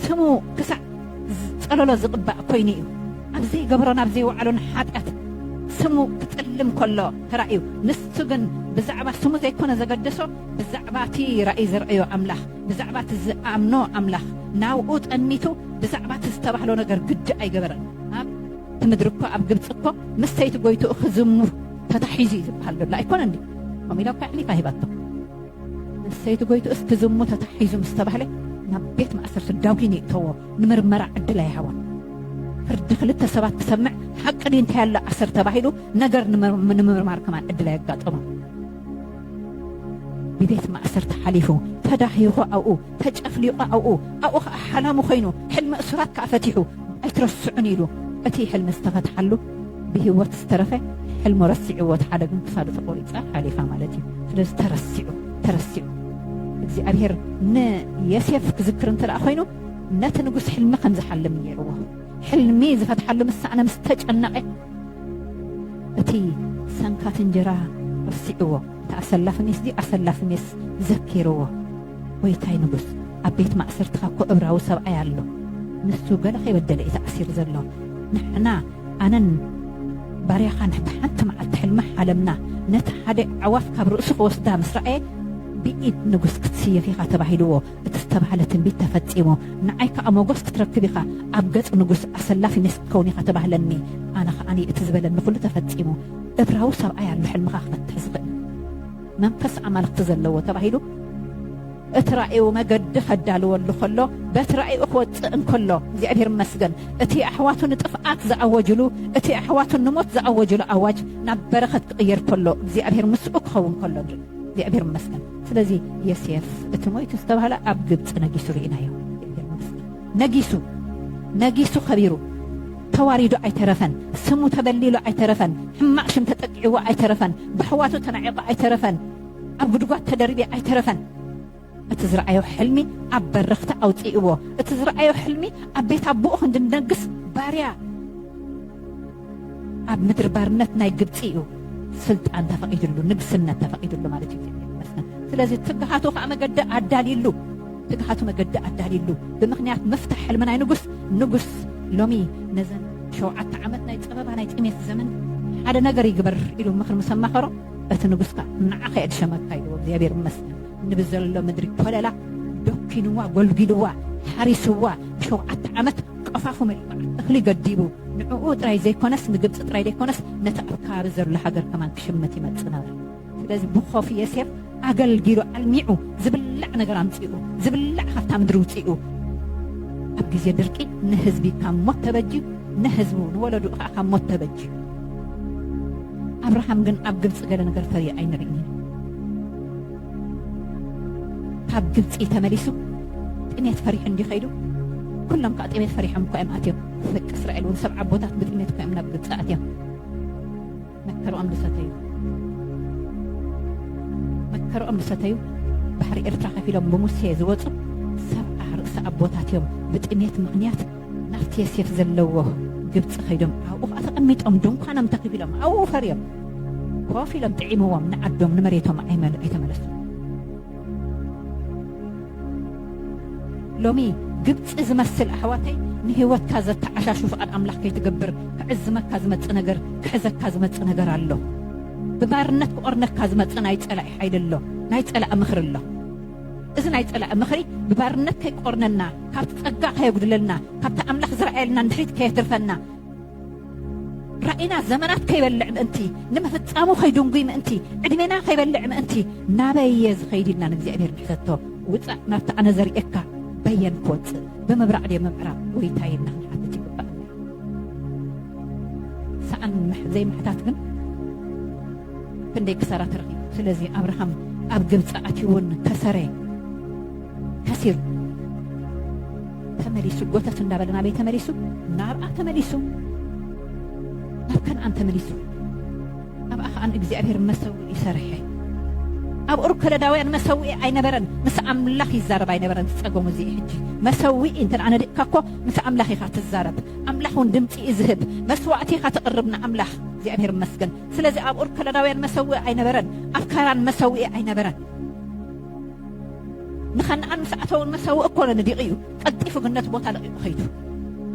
ስሙ ክሳዕ ፀለሎ ዝቕባእ ኮይኑ እዩ ኣብ ዘይገብሮ ናብ ዘይወዓሎን ሓጢኣት ስሙ ክፅልም ከሎ ተራእዩ ንሱ ግን ብዛዕባ ስሙ ዘይኮነ ዘገደሶ ብዛዕባ እቲ ራእይ ዘርእዮ ኣምላኽ ብዛዕባ እቲ ዝኣምኖ ኣምላኽ ናብኡ ጠሚቱ ብዛዕባ እቲ ዝተባህሎ ነገር ግዲ ኣይገበረን። ኣብ እቲ ምድሪ እኮ ኣብ ግብፂ እኮ ምስ ሰይቲ ጎይትኡ ክዝሙር ተታሒዙ እዩ ዝበሃል ዘሎ ኣይኮነን ድዩ? ከምኡ ኢላ እኳ ኣሕሊፋ ሂባቶ። ምስ ሰይቲ ጎይትኡስ ክዝሙ ተታሒዙ ምስ ተባህለ ናብ ቤት ማእሰርቲ ዳዊን ይእተዎ፣ ንምርመራ ዕድል ኣይሃቦን። ፍርዲ ክልተ ሰባት ክሰምዕ ሓቂ ድዩ እንታይ ኣሎ ኣሰር ተባሂሉ ነገር ንምርማር ከማን ዕድል ኣየጋጠሞን። ብቤት ማእሰርቲ ሓሊፉ፣ ተዳሂኹ ኣብኡ፣ ተጨፍሊቑ ኣብኡ፣ ኣብኡ ከኣ ሓላሙ ኮይኑ፣ ሕልሚ እሱራት ከኣ ፈቲሑ፣ ኣይትረስዑኒ ኢሉ፣ እቲ ሕልሚ ዝተፈትሓሉ ብሂወት ዝተረፈ ሕልሙ ረሲዕዎ እቲ ሓደ ግን ክሳዱ ተቆሪጻ ሓሊፋ ማለት እዩ ስለዚ ተረሲዑ ተረሲዑ እግዚኣብሔር ንየሴፍ ክዝክር እንተ ኮይኑ ነቲ ንጉስ ሕልሚ ከምዝሓልም ነይርዎ ሕልሚ ዝፈትሓሉ ምስ ሰኣነ ምስ ተጨነቐ እቲ ሰንካት እንጀራ ረሲዕዎ እቲ ኣሰላፊ ሜስ ድዩ ኣሰላፊ ሜስ ዘኪርዎ ጎይታይ ንጉስ ኣብ ቤት ማእሰርትኻ እኮ እብራዊ ሰብኣይ ኣሎ ንሱ ገለ ከይበደለ እዩ ተኣሲሩ ዘሎ ንሕና ኣነን ባርያኻን ብሓንቲ መዓልቲ ሕልሚ ሓለምና ነቲ ሓደ ኣዕዋፍ ካብ ርእሱ ክወስዳ ምስ ረኣየ ብኢድ ንጉስ ክትስየፍ ኢኻ ተባሂልዎ እቲ ዝተባህለ ትንቢት ተፈጺሙ። ንዓይ ከኣ ሞጎስ ክትረክብ ኢኻ፣ ኣብ ገጽ ንጉስ ኣሰላፊ ሜስ ክትከውን ኢኻ ተባህለኒ። ኣነ ከኣ እቲ ዝበለኒ ኩሉ ተፈጺሙ። እብራዊ ሰብኣይ ኣሎ ሕልምኻ ክፈትሕ ዝኽእል። መንፈስ ኣማልኽቲ ዘለዎ ተባሂሉ። እቲ ራእዩ መገዲ ከዳልወሉ ከሎ በቲ ራእዩ ክወጽእ እንከሎ እግዚኣብሔር ይመስገን እቲ ኣሕዋቱ ንጥፍኣት ዝኣወጅሉ እቲ ኣሕዋቱ ንሞት ዝኣወጅሉ ኣዋጅ ናብ በረኸት ክቕየር ከሎ እግዚኣብሔር ምስኡ ክኸውን ከሎ ንርኢ እግዚኣብሔር ይመስገን ስለዚ ዮሴፍ እቲ ሞይቱ ዝተባህለ ኣብ ግብፂ ነጊሱ ርኢናዮ። ነጊሱ ነጊሱ ከቢሩ ተዋሪዱ ኣይተረፈን። ስሙ ተበሊሉ ኣይተረፈን። ሕማቅ ሽም ተጠቂዕዎ ኣይተረፈን። ብሕዋቱ ተናዒቁ ኣይተረፈን። ኣብ ጉድጓድ ተደርብዩ ኣይተረፈን። እቲ ዝረኣዮ ሕልሚ ኣብ በረኽቲ ኣውፂእዎ። እቲ ዝረኣዮ ሕልሚ ኣብ ቤት ኣቦኡ ክንዲ ንነግስ ባርያ ኣብ ምድሪ ባርነት ናይ ግብፂ እዩ ስልጣን ተፈቒድሉ ንግስነት ተፈቒድሉ ማለት እዩ ስለዚ ትግሃቱ ከዓ መገዲ ኣዳልዩሉ ትግሃቱ መገዲ ኣዳልዩሉ ብምክንያት ምፍታሕ ሕልሚ ናይ ንጉስ ንጉስ ሎሚ ነዘን ሸውዓተ ዓመት ናይ ፀበባ ናይ ጥሜት ዘመን ሓደ ነገር ይግበር ኢሉ ምክሪ ምስ ኣማኸሮ እቲ ንጉስ ከዓ ንዓኸ የድሸመካ ኢልዎ እግዚኣብሔር ይመስገን ንብዘሎ ምድሪ ኮለላ ዶኪንዋ ጎልጊልዋ ሓሪስዋ ብሸውዓተ ዓመት ቀፋኹም እልባዕ እኽሊ ገዲቡ ንዕኡ ጥራይ ዘይኮነስ ንግብጺ ጥራይ ዘይኮነስ ነቲ ኣብ ከባቢ ዘሎ ሃገር ከማን ክሽምት ይመጽእ ነበረ። ስለዚ ብኾፍ ዬሴፍ ኣገልጊሉ ኣልሚዑ ዝብላዕ ነገር ኣምጺኡ ዝብላዕ ካብታ ምድሪ ውጺኡ ኣብ ግዜ ድርቂ ንህዝቢ ካብ ሞት ተበጅዩ ንህዝቡ ንወለድኡ ከኣ ካብ ሞት ተበጅዩ። ኣብርሃም ግን ኣብ ግብጺ ገለ ነገር ፈርዩ ኣይንርእይን ኢና። ካብ ግብፂ ተመሊሱ ጥሜት ፈሪሑ እንዲ ከይዱ ኩሎም ከዓ ጥሜት ፈሪሖም እኳ እዮም ኣትዮም ደቂ እስራኤል እውን ሰብ ዓቦታት ብጥሜት እኳ እዮም ናብ ግብፂ ኣትዮም መከርኦም ዝሰተዩ መከርኦም ዝሰተዩ ባሕሪ ኤርትራ ከፊሎም ብሙሴ ዝወፁ ሰብዓ ርእሲ ኣቦታት እዮም ብጥሜት ምክንያት ናፍቲ የሴፍ ዘለዎ ግብፂ ከይዶም ኣብኡ ከዓ ተቐሚጦም ድንኳኖም ተኺቢሎም ኣብኡ ፈርዮም ኮፍ ኢሎም ጥዒምዎም ንዓዶም ንመሬቶም ኣይተመለሱ ሎሚ ግብፂ ዝመስል ኣሕዋተይ ንህይወትካ ዘተዓሻሹ ፍቓድ ኣምላኽ ከይትገብር ክዕዝመካ ዝመፅ ነገር ክሕዘካ ዝመፅ ነገር ኣሎ ብባርነት ክቆርነካ ዝመፅ ናይ ፀላኢ ሓይሊ ኣሎ ናይ ፀላኢ ምኽሪ ኣሎ እዚ ናይ ጸላኢ ምኽሪ ብባርነት ከይቆርነና፣ ካብቲ ጸጋ ከየጉድለልና፣ ካብቲ ኣምላኽ ዝረኣየልና ንድሕሪት ከየትርፈና፣ ራእይና ዘመናት ከይበልዕ ምእንቲ፣ ንምፍጻሙ ከይድንጉይ ምእንቲ፣ ዕድሜና ከይበልዕ ምእንቲ፣ ናበይ እየ ዝኸይድ ኢልና ንእግዚኣብሔር ንሕተቶ። ውጻእ ናብቲ ኣነ ዘርእየካ በየን ክወጽእ ብምብራቕ ድየ ምምዕራብ ጎይታየ ኢልና ክንሓትት ይግባእ። ሰኣን ዘይምሕታት ግን ክንደይ ክሳራ ተረኺቡ። ስለዚ ኣብርሃም ኣብ ግብፂ ኣትዩ እውን ከሰረ፣ ከሲሩ ተመሊሱ ጎተት እንዳበለ ናበይ ተመሊሱ? ናብኣ ተመሊሱ፣ ናብ ከነኣን ተመሊሱ። ኣብኣ ከዓ ንእግዚኣብሔር መሰውኢ ሰርሐ። ኣብ ኡር ከለዳውያን መሰውኢ ኣይነበረን፣ ምስ ኣምላኽ ይዛረብ ኣይነበረን። ዝፀገሙ እዚ ሕጂ መሰውኢ እንተ ነዲቕካ እኮ ምስ ኣምላኽ ኢኻ ትዛረብ፣ ኣምላኽ እውን ድምፂ እዩ ዝህብ፣ መስዋእቲ ኢኻ ተቕርብ ንኣምላኽ። እግዚኣብሔር ይመስገን። ስለዚ ኣብ ኡር ከለዳውያን መሰውኢ ኣይነበረን፣ ኣብ ካራን መሰውኢ ኣይነበረን። ንኸነኣን ምስ ኣተውን መሰውኢ ኮነ ንዲቕ እዩ፣ ቀልጢፉ ግን ነቲ ቦታ ለቒቑ ኸይዱ።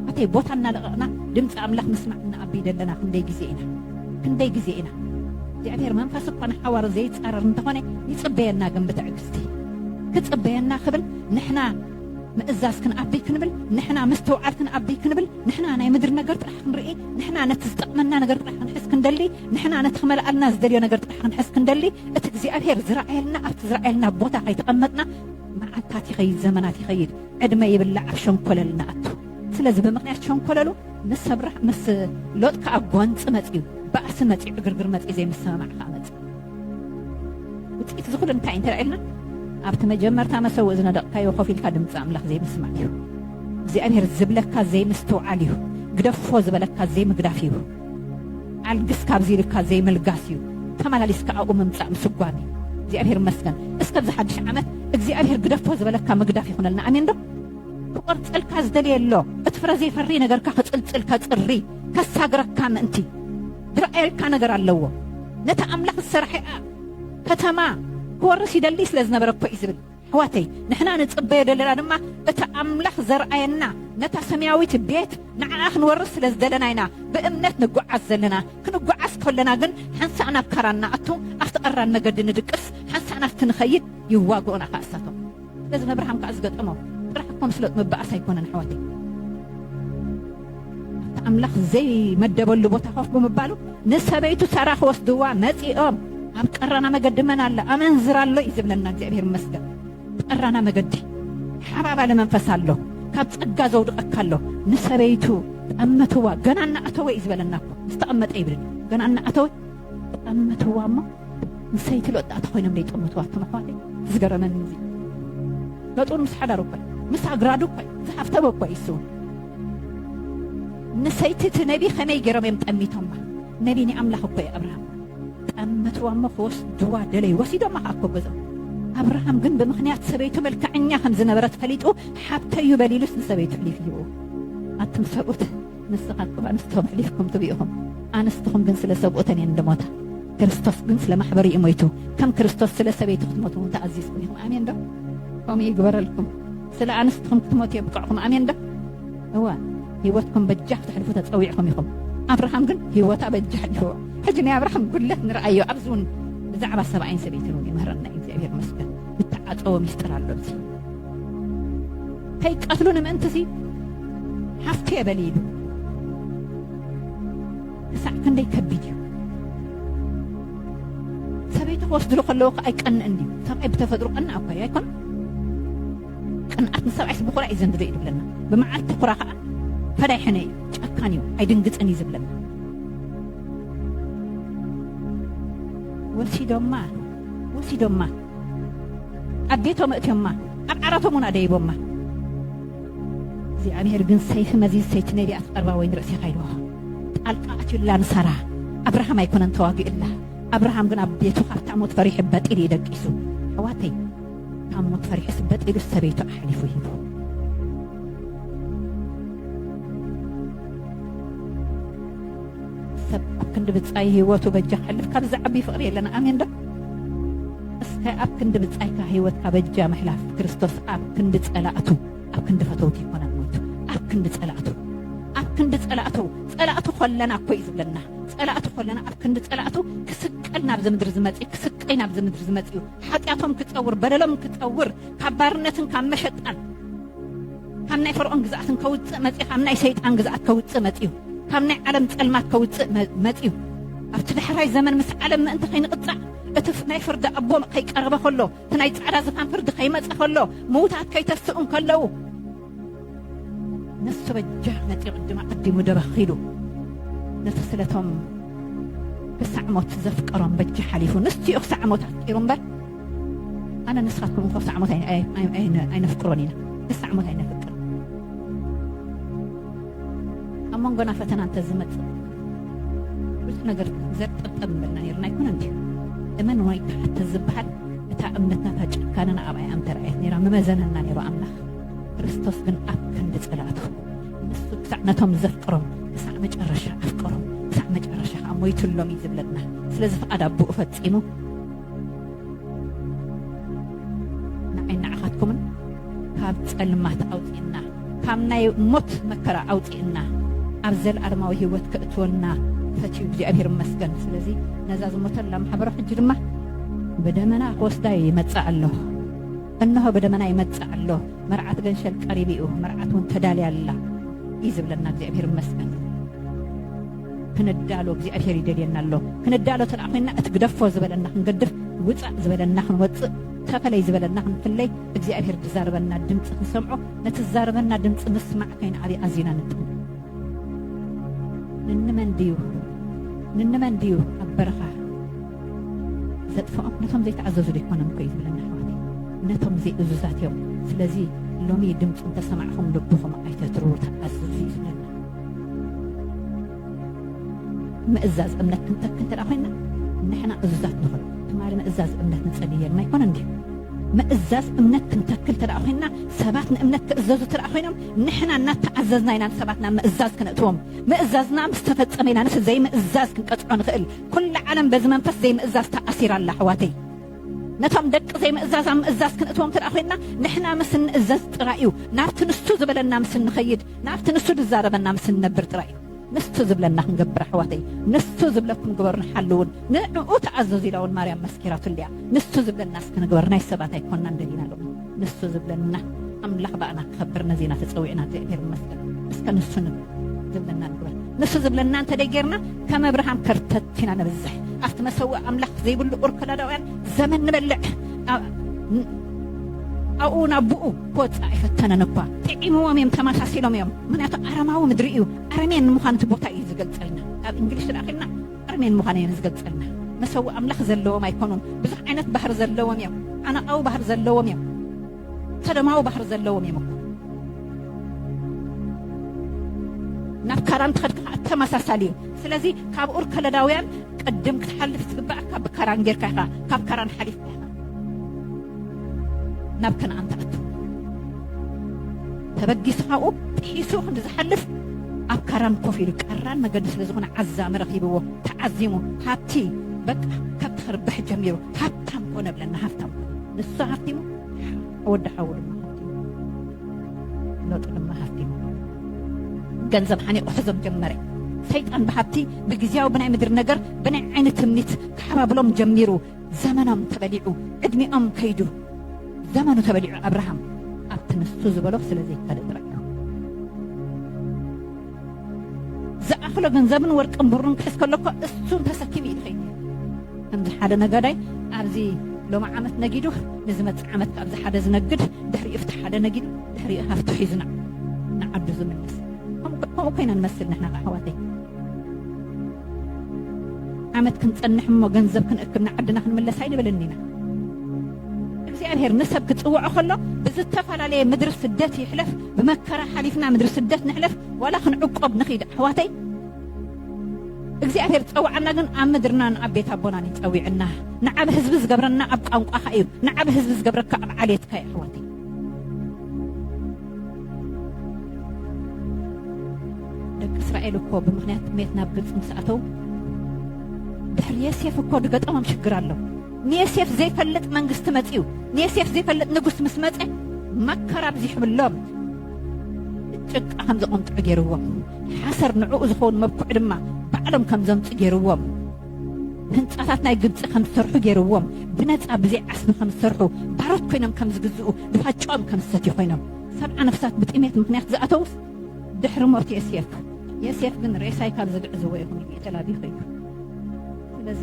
ኣተይ ቦታ እናለቐቕና ድምፂ ኣምላኽ ምስማዕ እንኣቢ ደለና ክንደይ ግዜ ኢና ክንደይ ግዜ ኢና እግዚኣብሔር መንፈስ እኳ ንሓዋሩ ዘይፃረር እንተኾነ ይፅበየና ግን ብትዕግስቲ ክፅበየና ክብል ንሕና ምእዛዝ ክንኣቢ ክንብል ንሕና ምስትውዓል ክንኣቢ ክንብል ንሕና ናይ ምድሪ ነገር ጥራሕ ክንርኢ ንሕና ነቲ ዝጠቕመና ነገር ጥራሕ ክንሕስ ክንደሊ ንሕና ነቲ ክመልኣልና ዝደልዮ ነገር ጥራሕ ክንሕስ ክንደሊ እቲ እግዚኣብሔር ዝረኣየልና ኣብቲ ዝረኣየልና ቦታ ከይተቐመጥና መዓልታት ይኸይድ ዘመናት ይኸይድ ዕድመ ይብላዕ ኣብ ሸንኮለል ንኣቱ ስለዚ ብምክንያት ሸንኮለሉ ምስ ኣብርሃ ምስ ሎጥ ከዓ ጓንፂ መፅዩ ባእሲ መፅዩ ዕግርግር መፅዩ ዘይምስምማዕ ከዓ መፅዩ ውጽኢት እዚ ኩሉ እንታይ እዩ እንተ ኢልና ኣብቲ መጀመርታ መሰውእ ዝነደቕካዮ ኮፍ ኢልካ ድምፂ ኣምላኽ ዘይምስማዕ እዩ። እግዚኣብሔር ዝብለካ ዘይምስትውዓል እዩ። ግደፎ ዝበለካ ዘይምግዳፍ እዩ። ኣልግስ ካብዚ ኢልካ ዘይምልጋስ እዩ። ተመላሊስካ ኣብኡ ምምፃእ ምስጓም እዩ። እግዚኣብሔር ይመስገን። እስከ ኣብዚ ሓድሽ ዓመት እግዚኣብሔር ግደፎ ዝበለካ ምግዳፍ ይኹነልና። ኣሜን ዶ? ክቆርፀልካ ዝደለየ ኣሎ። እቲ ፍረ ዘይፈሪ ነገርካ ክፅልፅል ከፅሪ ከሳግረካ ምእንቲ ዝረኣየልካ ነገር ኣለዎ። ነታ ኣምላኽ ዝሰርሐኣ ከተማ ክወርስ ይደሊ ስለ ዝነበረ እኮ እዩ ዝብል። ኣሕዋተይ ንሕና ንጽበዮ ዘለና ድማ እቲ ኣምላኽ ዘርኣየና ነታ ሰማያዊት ቤት ንዓኣ ክንወርስ ስለ ዝደለና ኢና ብእምነት ንጓዓዝ ዘለና። ክንጓዓዝ ከሎና ግን ሓንሳእ ናብ ካራን ንኣቱ፣ ኣብቲ ቀራን መገዲ ንድቅስ፣ ሓንሳእ ናብቲ ንኸይድ ይዋግኡና ከኣ እሳቶም። ነዚ ነብርሃም ከኣ ዝገጠሞ ጥራሕ እኮ ንፍለጥ ምበኣስ ኣይኮነን ኣሕዋተይ ኣብቲ ኣምላኽ ዘይመደበሉ ቦታ ኮፍ ብምባሉ ንሰበይቱ ሰራ ክወስድዋ መጺኦም ኣብ ቀራና መገዲ መን ኣሎ ኣመንዝራ ኣሎ እዩ ዝብለና እግዚኣብሔር ይመስገን ቀራና መገዲ ሓባባሊ መንፈስ ኣሎ ካብ ጸጋ ዘውድቐካ ኣሎ ንሰበይቱ ጠመትዋ ገና እናኣተወ እዩ ዝበለና እኮ ዝተቐመጠ ይብል ገና እናኣተወ ብጣዕሚ መትዋ እሞ ንሰይቲ ሎጣ ተኮይኖም ዘይጠመትዋ ኣቶም ኣሕዋተይ ዝገረመኒ እዚ መጡር ምስ ሓዳሩ እኮ ምስ ኣግራዱ እኮ ዝሓፍተበ እኮ እዩ ስውን ንሰይቲ እቲ ነቢ ከመይ ገይሮም እዮም ጠሚቶማ ነቢ ናይ ኣምላኽ እኮ እዩ ኣብርሃም ጠመትዋ እሞ ክወስድዋ ደለዩ ወሲዶማ ከዓ እኮ ገዞም ኣብርሃም ግን ብምክንያት ሰበይቱ መልክዐኛ ከም ዝነበረት ፈሊጡ ሓብተዩ በሊሉስ ንሰበይቱ ሕሊፍ ይህብዎ ኣቱም ሰብኡት ንስኻትኩም ኣንስትኹም ሕሊፍኩም ትብኡ ኢኹም፣ ኣንስትኹም ግን ስለ ሰብኡተን እየን ዝሞታ፣ ክርስቶስ ግን ስለ ማሕበሩ እዩ ሞይቱ፣ ከም ክርስቶስ ስለ ሰበይቱ ክትሞቱ እውን ተኣዚዝኩም ኢኹም። ኣሜን ዶ? ከምኡ ይግበረልኩም። ስለ ኣንስትኹም ክትሞቱ የብቅዕኩም። ኣሜን ዶ? እወ፣ ህይወትኩም በጃ ክተሕልፉ ተጸዊዕኩም ኢኹም። ኣብርሃም ግን ህይወቱ ኣበጃ ኣሕሊፍዎ። ሕጂ ናይ ኣብርሃም ጉድለት ንርኣዮ፣ ኣብዚ እውን ብዛዕባ ሰብኣይን ሰበይትን እውን ይምህረና እዩ። እግዚኣብሄር ይመስገን። ዝተዓጸወ ምስጢር ኣሎ እዚ ከይቀትሉኒ ምእንትሲ ሃፍቲ የበሊ ኢሉ ክሳዕ ክንደይ ከቢድ እዩ ሰበይቲ ክወስድሉ ከለዎ ከዓ ኣይቀንእን ድዩ ሰብኣይ ብተፈጥሮ ቀና እኳ እዩ ኣይኮነ ቅንኣት ንሰብኣይስ ብኩራ እዩ ዘንድዶ እዩ ዝብለና ብመዓልቲ ኩራ ከዓ ፈዳይ ሕነ እዩ ጨካን እዩ ኣይድንግፅን እዩ ዝብለና ወሲዶማ ወሲዶማ ኣብ ቤቶም ኣእትዮማ ኣብ ዓራቶም እውን ኣደይቦማ እግዚኣብሔር ግን ሰይፊ መዚዝ ሰይቲ ነቢያት ቀርባ ወይን ርእሴኻ ኢልዎ ጣልቃ ኣትዩላ ንሳራ ኣብርሃም ኣይኮነን ተዋጊኡላ ኣብርሃም ግን ኣብ ቤቱ ካብታ ሞት ፈሪሑ በጢሉ እዩ ደቂሱ ኣሕዋተይ ካብ ሞት ፈሪሑስ በጢሉ ሰበይቱ ኣሕሊፉ ሂቡ ሰብ ኣብ ክንዲ ብጻይ ህይወቱ በጃ ክሕልፍ ካብ ዝዓቢ ፍቕሪ የለን ኣሜን ዶ እስከ ኣብ ክንዲ ብጻይካ ህይወትካ በጃ ምሕላፍ ክርስቶስ ኣብ ክንዲ ጸላእቱ ኣብ ክንዲ ፈተውቲ ይኮና ሞይቱ ኣብ ክንዲ ጸላእቱ ኣብ ክንዲ ጸላእቱ ጸላእቱ ኮለና እኮ እዩ ዝብለና ጸላእቱ ኮለና ኣብ ክንዲ ጸላእቱ ክስቀል ናብዚ ምድሪ ዝመጽእ ክስቀይ ናብዚ ምድሪ ዝመጽእ ሓጢኣቶም ክጸውር በደሎም ክጸውር ካብ ባርነትን ካብ መሸጣን ካብ ናይ ፈርዖን ግዝኣት እንከውጽእ መጺኡ ካብ ናይ ሰይጣን ግዝኣት ከውጽእ መጺኡ ካብ ናይ ዓለም ጸልማት ከውጽእ መጺኡ ኣብቲ ዳሕራይ ዘመን ምስ ዓለም ምእንቲ ከይንቕጻዕ እቲ ናይ ፍርዲ ኣቦ ከይቀረበ ከሎ እቲ ናይ ጻዕዳ ዝፋን ፍርዲ ከይመጸ ከሎ ምውታት ከይተስኡ ከለዉ ንሱ በጃ መጺኡ ቅድማ ቀዲሙ ደበኺሉ ነቲ ስለቶም ክሳዕ ሞት ዘፍቀሮም በጃ ሓሊፉ ንሱ እዩ ክሳዕ ሞት ኣፍቂሩ እምበር ኣነ ንስኻትኩም እኮ ክሳዕ ሞት ኣይነፍቅሮን ኢና ክሳዕ ሞት ኣይነፍቅር ኣብ መንጎና ፈተና እንተዝመፅእ ብዙሕ ነገር ዘጠብጠብ ምበልና ነርና ኣይኮነ እንድዩ እመን ወይ ክሓተ ዝበሃል እታ እምነትና እታ ጭካነና ኣብ ኣይ ኣምተረኣየት ነራ ምመዘነና ነይሩ ኣምላኽ ክርስቶስ ግን ኣብ ክንዲ ፀላእቱ ንሱ ክሳዕ ነቶም ዘፍቅሮም ክሳዕ መጨረሻ ኣፍቀሮም ክሳዕ መጨረሻ ከዓ ሞይትሎም እዩ ዝብለና ስለዚ ፍቓድ ኣቦኡ ፈፂሙ ንዓይ ንዓኻትኩምን ካብ ጸልማት ኣውጽእና ካብ ናይ ሞት መከራ ኣውጽእና ኣብ ዘለኣለማዊ ህይወት ከእትወና ፈትዩ እግዚኣብሔር ይመስገን። ስለዚ ነዛ ዝሞተላ ማሕበረ ሕጂ ድማ ብደመና ክወስዳ ይመጽእ ኣሎ እነሆ ብደመና ይመጽእ ኣሎ መርዓት ገንሸል ቀሪቡ እዩ መርዓት እውን ተዳልያ ኣላ እዩ ዝብለና እግዚኣብሔር ይመስገን። ክንዳሎ እግዚኣብሔር ይደልየና ኣሎ ክንዳሎ ተደኣ ኮይንና እቲ ግደፎ ዝበለና ክንገድፍ ውፃእ ዝበለና ክንወፅእ ተፈለይ ዝበለና ክንፍለይ እግዚኣብሔር ዝዛረበና ድምፂ ክንሰምዖ ነቲ ዝዛረበና ድምፂ ምስማዕ ከይንኣብይ ኣዝና ንጥም ንንመን ድዩ ንንመን ድዩ ኣብ በረኻ ዘጥፍኦም ነቶም ዘይተኣዘዙ ዘይኮነም ኮዩ ዝብለና ኣሕዋተይ ነቶም ዘይእዙዛት እዮም ስለዚ ሎሚ ድምፁ እንተሰማዕኹም ልብኹም ኣይተትርዉ ተኣዝዙ እዩ ዝብለና ምእዛዝ እምነት ክንተክል እንተ ኮይና ንሕና እዙዛት ንኹን። ትማሊ ምእዛዝ እምነት ንጸሊ ኔርና ኣይኮነን ድዩ? ምእዛዝ እምነት ክንተክል እንተ ኮይና ሰባት ንእምነት ክእዘዙ እንተ ኮይኖም ንሕና እናተኣዘዝና ኢና ንሰባት ናብ ምእዛዝ ክነእትዎም። ምእዛዝና ምስ ተፈጸመ ኢና ንስ ዘይምእዛዝ ክንቀጽዖ ንኽእል። ኩላ ዓለም በዚ መንፈስ ዘይምእዛዝ ተኣሲራ ኣላ ኣሕዋተይ። ነቶም ደቂ ዘይምእዛዝ ኣብ ምእዛዝ ክንእትዎም እንተ ኮይንና ንሕና ምስ እንእዘዝ ጥራይ እዩ። ናብቲ ንሱ ዝበለና ምስ እንኸይድ፣ ናብቲ ንሱ ዝዛረበና ምስ እንነብር ጥራይ እዩ። ንሱ ዝብለና ክንገብር ኣሕዋተይ። ንሱ ዝብለኩም ግበሩን ሓልውን፣ ንዕኡ ተኣዘዙ ኢላ እውን ማርያም መስኪራትሉ እያ። ንሱ ዝብለና እስኪ ንግበር ናይ ሰባት ኣይኮናን ደሊና ሎሚ። ንሱ ዝብለና ኣምላኽ ባእና ክኸብር ነዚ ኢና ተጸዊዕና እግዚኣብሔር ይመስገን እስከ ንሱ ንብል ዝብለና ንግበር ንሱ ዝብለና እንተ ደይጌርና ከም ኣብርሃም ከርተት ኢና ነብዝሕ ኣብቲ መሰውእ ኣምላኽ ዘይብሉ ኡር ከላዳውያን ዘመን ንበልዕ ኣብኡ ናብኡ ክወፅእ ኣይፈተነን እኳ ጥዒምዎም እዮም ተመሳሲሎም እዮም ምክንያቱ ኣረማዊ ምድሪ እዩ ኣረሜን ንምዃን እቲ ቦታ እዩ ዝገልፀልና ኣብ እንግሊሽ ዝለኣኺልና ኣርሜን ምዃነይ እየን ዝገልጸልና። መሰውኢ ኣምላኽ ዘለዎም ኣይኮኑን። ብዙሕ ዓይነት ባህሪ ዘለዎም እዮም። ዓናቓዊ ባህሪ ዘለዎም እዮም። ሰዶማዊ ባህሪ ዘለዎም እዮም እኮ። ናብ ካራን ትኸድካ ከዓ ተመሳሳሊ እዩ። ስለዚ ካብ ኡር ከለዳውያን ቅድም ክትሓልፍ ዝግባእካ ብካራን ጌርካ ኢኻ። ካብ ካራን ሓሊፍካ ኢኻ ናብ ከነኣን ትኣቱ። ተበጊሱ ካብኡ ጥሒሱ ክንዲ ዝሓልፍ ኣብ ካራን ኮፍ ኢሉ ቀራን መገዲ ስለ ዝኾነ ዓዛሚ ረኺብዎ ተዓዚሙ ሃብቲ በቃ ከብቲ ክርብሕ ጀሚሩ ሃብታም ኮነ ብለና ሃብታም ንሱ ሃብቲሙ ወዲ ሓዉ ድማ ለውጢ ድማ ሃፍቲ ገንዘብ ሓኒቑ ሕዞም ጀመረ ሰይጣን ብሃብቲ ብግዜያዊ ብናይ ምድሪ ነገር ብናይ ዓይኒ ትምኒት ክሓባብሎም ጀሚሩ ዘመኖም ተበሊዑ ዕድሚኦም ከይዱ ዘመኑ ተበሊዑ ኣብርሃም ኣብቲ ንሱ ዝበሎ ስለ ዘይካደ ጥራይ ዝኣኽሎ ገንዘብን ወርቅን ብሩን ክሕዝ ከሎ እኮ እሱን ተሰኪሙ እዩ ዝኸይድ ከምዚ ሓደ ነጋዳይ ኣብዚ ሎሚ ዓመት ነጊዱ ንዝመፅእ ዓመት ካብዚ ሓደ ዝነግድ ድሕሪኡ ፍቲ ሓደ ነጊዱ ድሕሪኡ ሃፍቲ ሒዙና ንዓዱ ዝምልስ ከምኡ ኮይና ንመስል ንሕና ኣሕዋተይ ዓመት ክንጸንሕ እሞ ገንዘብ ክንእክብ ንዓድና ክንምለስ ኣይንብልን ኢና። እግዚኣብሔር ንሰብ ክጽውዖ ከሎ ብዝተፈላለየ ምድሪ ስደት ይሕለፍ ብመከራ ሓሊፍና ምድሪ ስደት ንሕለፍ ዋላ ክንዕቆብ ንኺድ ኣሕዋተይ እግዚኣብሔር ዝጸውዓና ግን ኣብ ምድርና ንኣብ ቤት ኣቦናን እዩ ጸዊዕና ንዓብ ህዝቢ ዝገብረና ኣብ ቋንቋኻ እዩ ንዓብ ህዝቢ ዝገብረካ ኣብ ዓሌትካ እዩ ኣሕዋተይ ደቂ እስራኤል እኮ ብምክንያት ጥሜት ናብ ግብፂ ምስ ኣተው ድሕሪ የሴፍ እኮ ድገጠሞም ሽግር ኣሎ ንየሴፍ ዘይፈልጥ መንግስቲ መፅኡ ንየሴፍ ዘይፈልጥ ንጉስ ምስ መፀ መከራ ብዚሕብሎም ጭቃ ከም ዘቆምጥዑ ገይርዎም ሓሰር ንዕኡ ዝኸውን መብኩዕ ድማ ባዕሎም ከም ዘምፁ ገይርዎም ህንጻታት ናይ ግብጺ ከም ዝሰርሑ ገይርዎም፣ ብነጻ ብዘይ ዓስቢ ከም ዝሰርሑ፣ ባሮት ኮይኖም ከም ዝግዝኡ፣ ድኻ ጨኦም ከም ዝሰትዩ ኮይኖም። ሰብዓ ነፍሳት ብጥሜት ምኽንያት ዝኣተዉስ ድሕሪ ሞት ዮሴፍ። ዮሴፍ ግን ሬሳይ ካብ ዝግዕዝዎ ኢኹም ኢሉ እዩ ተላብዩ ከይዱ። ስለዚ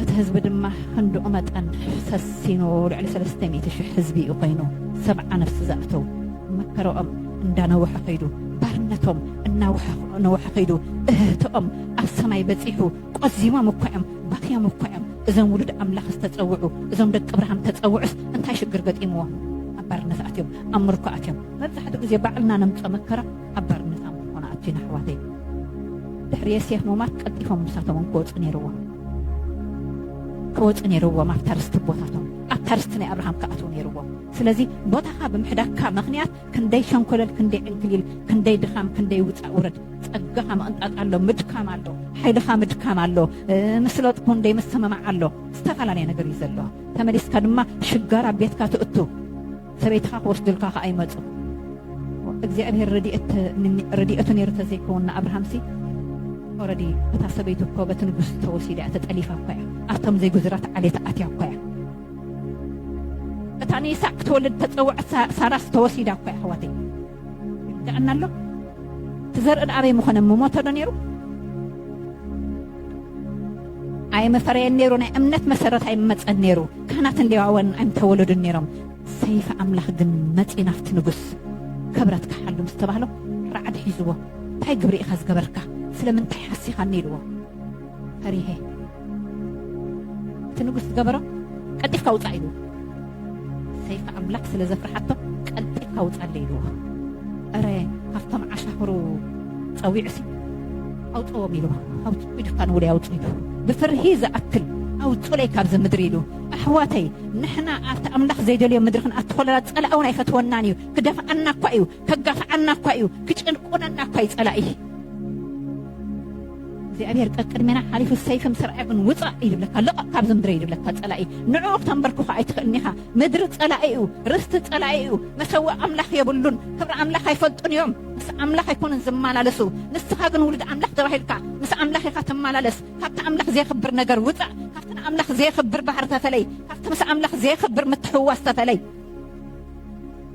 እቲ ህዝቢ ድማ ክንድኡ መጠን ሰሲኑ ልዕሊ ሰለስተ ሚእቲ ሽሕ ህዝቢ እዩ ኮይኑ ሰብዓ ነፍሲ ዝኣተዉ። መከራኦም እንዳነወሐ ከይዱ፣ ባርነቶም እናወሐነወሐ ከይዱ፣ እህህተኦም ኣብ ሰማይ በጺሑ፣ ቆዚሞም እኳ'ዮም፣ ባኽዮም እኳ'ዮም፣ እዞም ውሉድ ኣምላኽ ዝተጸውዑ፣ እዞም ደቂ ኣብርሃም ዝተጸውዑስ እንታይ ሽግር ገጢምዎም ኣብ ባርነት ኣትዮም፣ ኣብ ምርኮ ኣትዮም? መብዛሕትኡ ግዜ ባዕልና ነምጽኦ መከራ ኣብ ባርነት ኣብ ምርኮ ንኣቱ'ና ኣሕዋተይ። ድሕሪ የሴፍ ሙማት ቀልጢፎም ንሳቶም'ውን ክወጹ ነይርዎም። ክወጹ ነይርዎም ኣብታ ርስቲ ኣቦታቶም፣ ኣብታ ርስቲ ናይ ኣብርሃም ክኣትዉ ነይርዎም። ስለዚ ቦታኻ ብምሕዳግካ ምኽንያት ክንደይ ሸንኮለል ክንደይ ዕንክሊል ክንደይ ድኻም ክንደይ ውፃእ ውረድ ፀጋኻ ምቕንጣጥ ኣሎ ምድካም ኣሎ ሓይልኻ ምድካም ኣሎ ምስሎጥ ክንደይ ምስምማዕ ኣሎ ዝተፈላለየ ነገር እዩ ዘሎ ተመሊስካ ድማ ሽጋራ ኣብ ቤትካ ትእቱ ሰበይትኻ ክወስዱልካ ከዓ ይመፁ እግዚኣብሔር ረድኤቱ ነይሩ ተዘይከውን ንኣብርሃምሲ ኦረዲ እታ ሰበይቱ እኮ በቲ ንጉስ ተወሲዳ እያ ተጠሊፋ እኳ እያ ኣብቶም ዘይጉዙራት ዓሌት ኣትያ እኳ እያ እታ ንይስሐቅ ክትወልድ እተጸውዐት ሳራስ ተወሲዳ እኮ እያ ኣሕዋተይ ይርድኣና ኣሎ እቲ ዘርኢ ደኣ ኣበይ ምኾነ ምሞተ ዶ ነይሩ ኣይምፈረየን ነይሩ ናይ እምነት መሰረት ኣይመጸን ነይሩ ካህናትን ሌዋውያንን ኣይምተወለዱን ነይሮም ሰይፊ ኣምላኽ ግን መጺ ናፍቲ ንጉስ ክብረት ክሓሉ ምስ ተባህሎ ራዕዲ ሒዝዎ እንታይ ግብሪ ኢኻ ዝገበርካ ስለምንታይ ሓሲኻኒ ኢልዎ ፈሪሀ እቲ ንጉስ ዝገበሮ ቀልጢፍካ ውፃእ ኢሉ ሰይፊ ኣምላክ ስለ ዘፍርሓቶ ቀልጢፍካ ውፃለ ኢልዎ እረ ካብቶም ዓሻኽሩ ፀዊዑሲ ኣውፅዎም ኢልዎ ኣውፅ ኢድካ ንውለይ ኣውፅ ኢሉ ብፍርሂ ዝኣክል ኣውፁለይ ካብዚ ምድሪ ኢሉ ኣሕዋተይ ንሕና ኣብቲ ኣምላኽ ዘይደልዮ ምድሪ ክንኣቱ ከለና ፀላእ እውን ኣይፈትወናን እዩ ክደፍኣና እኳ እዩ ከጋፍዓና እኳ እዩ ክጭንቁነና እኳ እዩ ፀላኢ እግዚኣብሔር ቀቅድሜና ሓሊፉ ሰይፍን ስርዐግን ውፃእ ይብለካ ልቐቕ ካብዚ ምድረ ይብለካ ፀላኢ ንዕኡ ክተንበርክኾ ኣይትኽእልን ኢኻ ምድሪ ፀላኢ እዩ ርስቲ ፀላኢ እዩ መሰዊ ኣምላኽ የብሉን ክብሪ ኣምላኽ ኣይፈልጡን እዮም ምስ ኣምላኽ ኣይኮኑን ዝመላለሱ ንስኻ ግን ውሉድ ኣምላኽ ተባሂልካ ምስ ኣምላኽ ኢኻ ትመላለስ ካብቲ ኣምላኽ ዘየኽብር ነገር ውፃእ ካብቲ ንኣምላኽ ዘየኽብር ባህሪ ተፈለይ ካብቲ ምስ ኣምላኽ ዘየኽብር ምትሕውዋስ ተፈለይ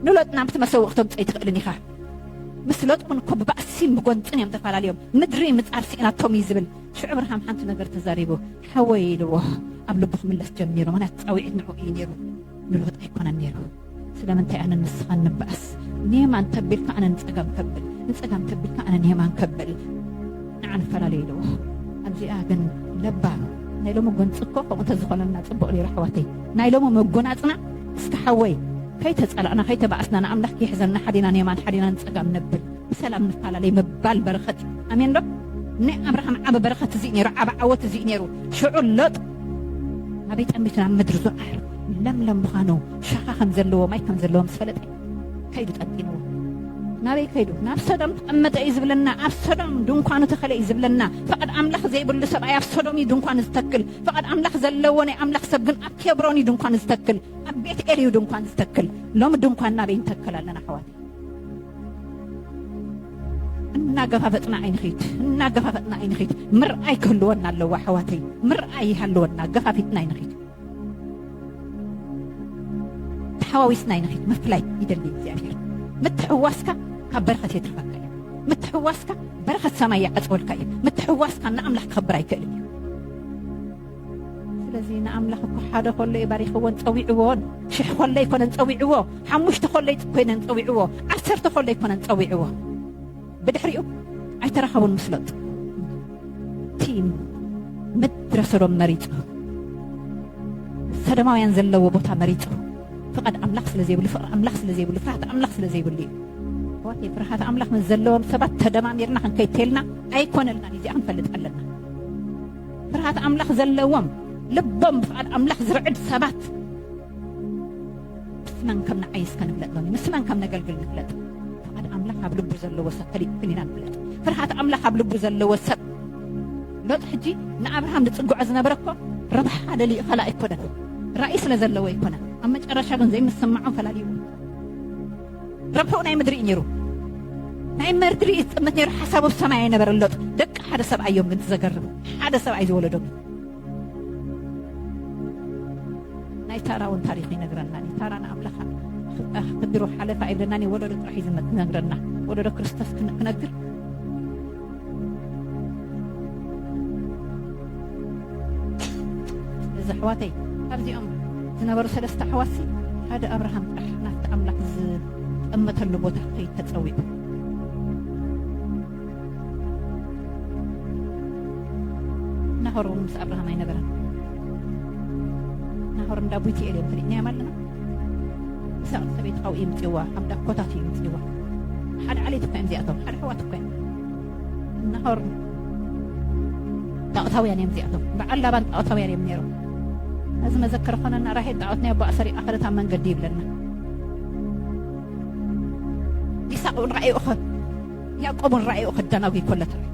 ንሎጥ ናብቲ መሰውኢ ክተምጽኦ ኣይትኽእልን ኢኻ። ምስ ሎጥ እውን እኮ ብባእሲን ብጎንጽን እዮም ተፋላልዮም። ምድሪ ምጻር ስኢናቶም እዩ ዝብል። ሽዑ ኣብርሃም ሓንቲ ነገር ተዛሪቡ። ሓወይ ኢልዎ ኣብ ልቡ ክምለስ ጀሚሩ። ምኽንያቱ ጻውዒት ንዕኡ እዩ ነይሩ ንሎጥ ኣይኮነን ነይሩ። ስለምንታይ ኣነን ንስኻን ንበኣስ? ንየማን ተቢልካ ኣነ ንጸጋም ከብል፣ ንጸጋም ተቢልካ ኣነ ንየማን ከብል። ንዓ ንፈላለ ኢልዎ ኣብዚኣ ግን ለባም ናይ ሎሚ ጎንፂ እኮ ከምኡ ተዝኾነና ፅቡቅ ነይሩ ኣሕዋተይ ናይ ሎሚ መጎናፅና እስከ ሓወይ ከይተፀላእና ከይተባኣስና ንኣምላክ ይሕዘና ሓዲና ንየማን ሓዲና ንፀጋም ነብል ብሰላም ንፈላለይ ምባል በረከት እዩ ኣሜን ዶ ናይ ኣብርሃም ዓበ በረከት እዚ ነይሩ ዓበ ዓወት እዚ ነይሩ ሽዑ ሎጥ ኣበይ ጠሚትና ምድሪ ዞኣር ለምለም ምዃኑ ሻኻ ከም ዘለዎ ማይ ከም ዘለዎ ምስ ፈለጠ ከይዱ ጠቂንዎ ናበይ ከይዱ ናብ ሰዶም ተቐመጠ እዩ ዝብለና ኣብ ሰዶም ድንኳኑ ተኸለ እዩ ዝብለና ፍቓድ ኣምላኽ ዘይብሉ ሰብኣይ ኣብ ሰዶም እዩ ድንኳኑ ዝተክል ፍቓድ ኣምላኽ ዘለዎ ናይ ኣምላኽ ሰብ ግን ኣብ ኬብሮን እዩ ድንኳኑ ዝተክል ኣብ ቤት ኤል እዩ ድንኳን ዝተክል ሎሚ ድንኳን ናበይ ንተክል ኣለና ኣሕዋት እናገፋፈጥና ኣይንኺድ እናገፋፈጥና ኣይንኺድ ምርኣይ ክህልወና ኣለዎ ኣሕዋተይ ምርኣይ ይሃልወና ገፋፊጥና ኣይንኺድ ተሓዋዊስና ኢና ሒት ምፍላይ ይደሊ እግዚኣብሔር ምትሕዋስካ ካብ በረኸት የትርፈካ እዩ ምትሕዋስካ በረኸት ሰማይ ይዓፅወልካ እዩ ምትሕዋስካ ንኣምላኽ ክኸብር ኣይክእልን እዩ ስለዚ ንኣምላኽ እኮ ሓደ ከሎ እዩ ባሪኽዎን ፀዊዕዎን ሽሕ ከሎ ኣይኮነን ፀዊዕዎ ሓሙሽተ ከሎ ኮይነን ፀዊዕዎ ዓሰርተ ከሎ ኣይኮነን ፀዊዕዎ ብድሕሪኡ ኣይተራኸቡን ምስ ሎጥ ቲም ምድረ ሰዶም መሪጹ ሰዶማውያን ዘለዎ ቦታ መሪጹ ፍቓድ ኣምላኽ ስለ ዘይብሉ ፍቕሪ ኣምላኽ ስለ ዘይብሉ ፍርሃት ኣምላኽ ስለ ዘይብሉ እዩ ኣሕዋተይ ፍርሃት ኣምላኽ ምስ ዘለዎም ሰባት ተደማሚርና ክንከይተልና ኣይኮነልናን እዚኣ ክንፈልጥ ኣለና ፍርሃት ኣምላኽ ዘለዎም ልቦም ብፍቓድ ኣምላኽ ዝርዕድ ሰባት ንስናን ከም ንዓይ እስከ ንፍለጥ ሎሚ ንስናን ከም ነገልግል ንፍለጥ ፍቓድ ኣምላኽ ኣብ ልቡ ዘለዎ ሰብ ፈሊጥክን ኢና ንፍለጥ ፍርሃት ኣምላኽ ኣብ ልቡ ዘለዎ ሰብ ሎጥ ሕጂ ንኣብርሃም ዝጽግዖ ዝነበረ እኮ ረብሓ ደልዩ ኸላ ኣይኮነን ራእይ ስለ ዘለዎ ኣይኮነ ኣብ መጨረሻ ግን ዘይምስምዖም ፈላልዩ ረብሕኡ ናይ ምድሪ እዩ ነይሩ ናይ መርድሪ እዩ ዝጥምት ነይሩ ሓሳቡ ሰማይ ኣይነበረ ሎጥ ደቂ ሓደ ሰብ ኣዮም ግን ትዘገርም ሓደ ሰብ ኣይ ዝወለዶም ናይ ታራ ውን ታሪክ ይነግረና ዩ ታራ ንኣምላካ ክድሮ ሓለፋ የብለናን ዩ ወለዶ ጥራሕ ዩ ዝነግረና ወለዶ ክርስቶስ ክነግር እዚ ኣሕዋተይ ካብዚኦም ዝነበሩ ሰለስተ ኣሕዋት ሓደ ኣብርሃም ጥራሕ ናብቲ ኣምላክ ዝጠመተሉ ቦታ ከይተፀዊዑ ናሆር እውን ምስ ኣብርሃም ኣይነበረን ናሆር እንዳ ቡቲኤል እዮም ፈሊጥናዮም ኣለና ይስሐቅ ሰበይቲ ካብኡ ይምፅዋ ኣብ ዳኮታት እዩ ይምፅዋ ሓደ ዓሌት እኳ እዮም እዚኣቶም ሓደ ሕዋት እኳ እዮም ናሆር ጣዖታውያን እዮም እዚኣቶም በዓል ላባን ጣዖታውያን እዮም ነይሮም እዚ መዘከር ኮነና ራሄል ጣዖት ናይ ኣቦ ኣሰሪቃ ከደት ኣብ መንገዲ ይብለና ይሳቅ እውን ረኣዩ እኸ ያዕቆብ ን ራእይኡ ክደናጒ ከሎ ተራእዩ።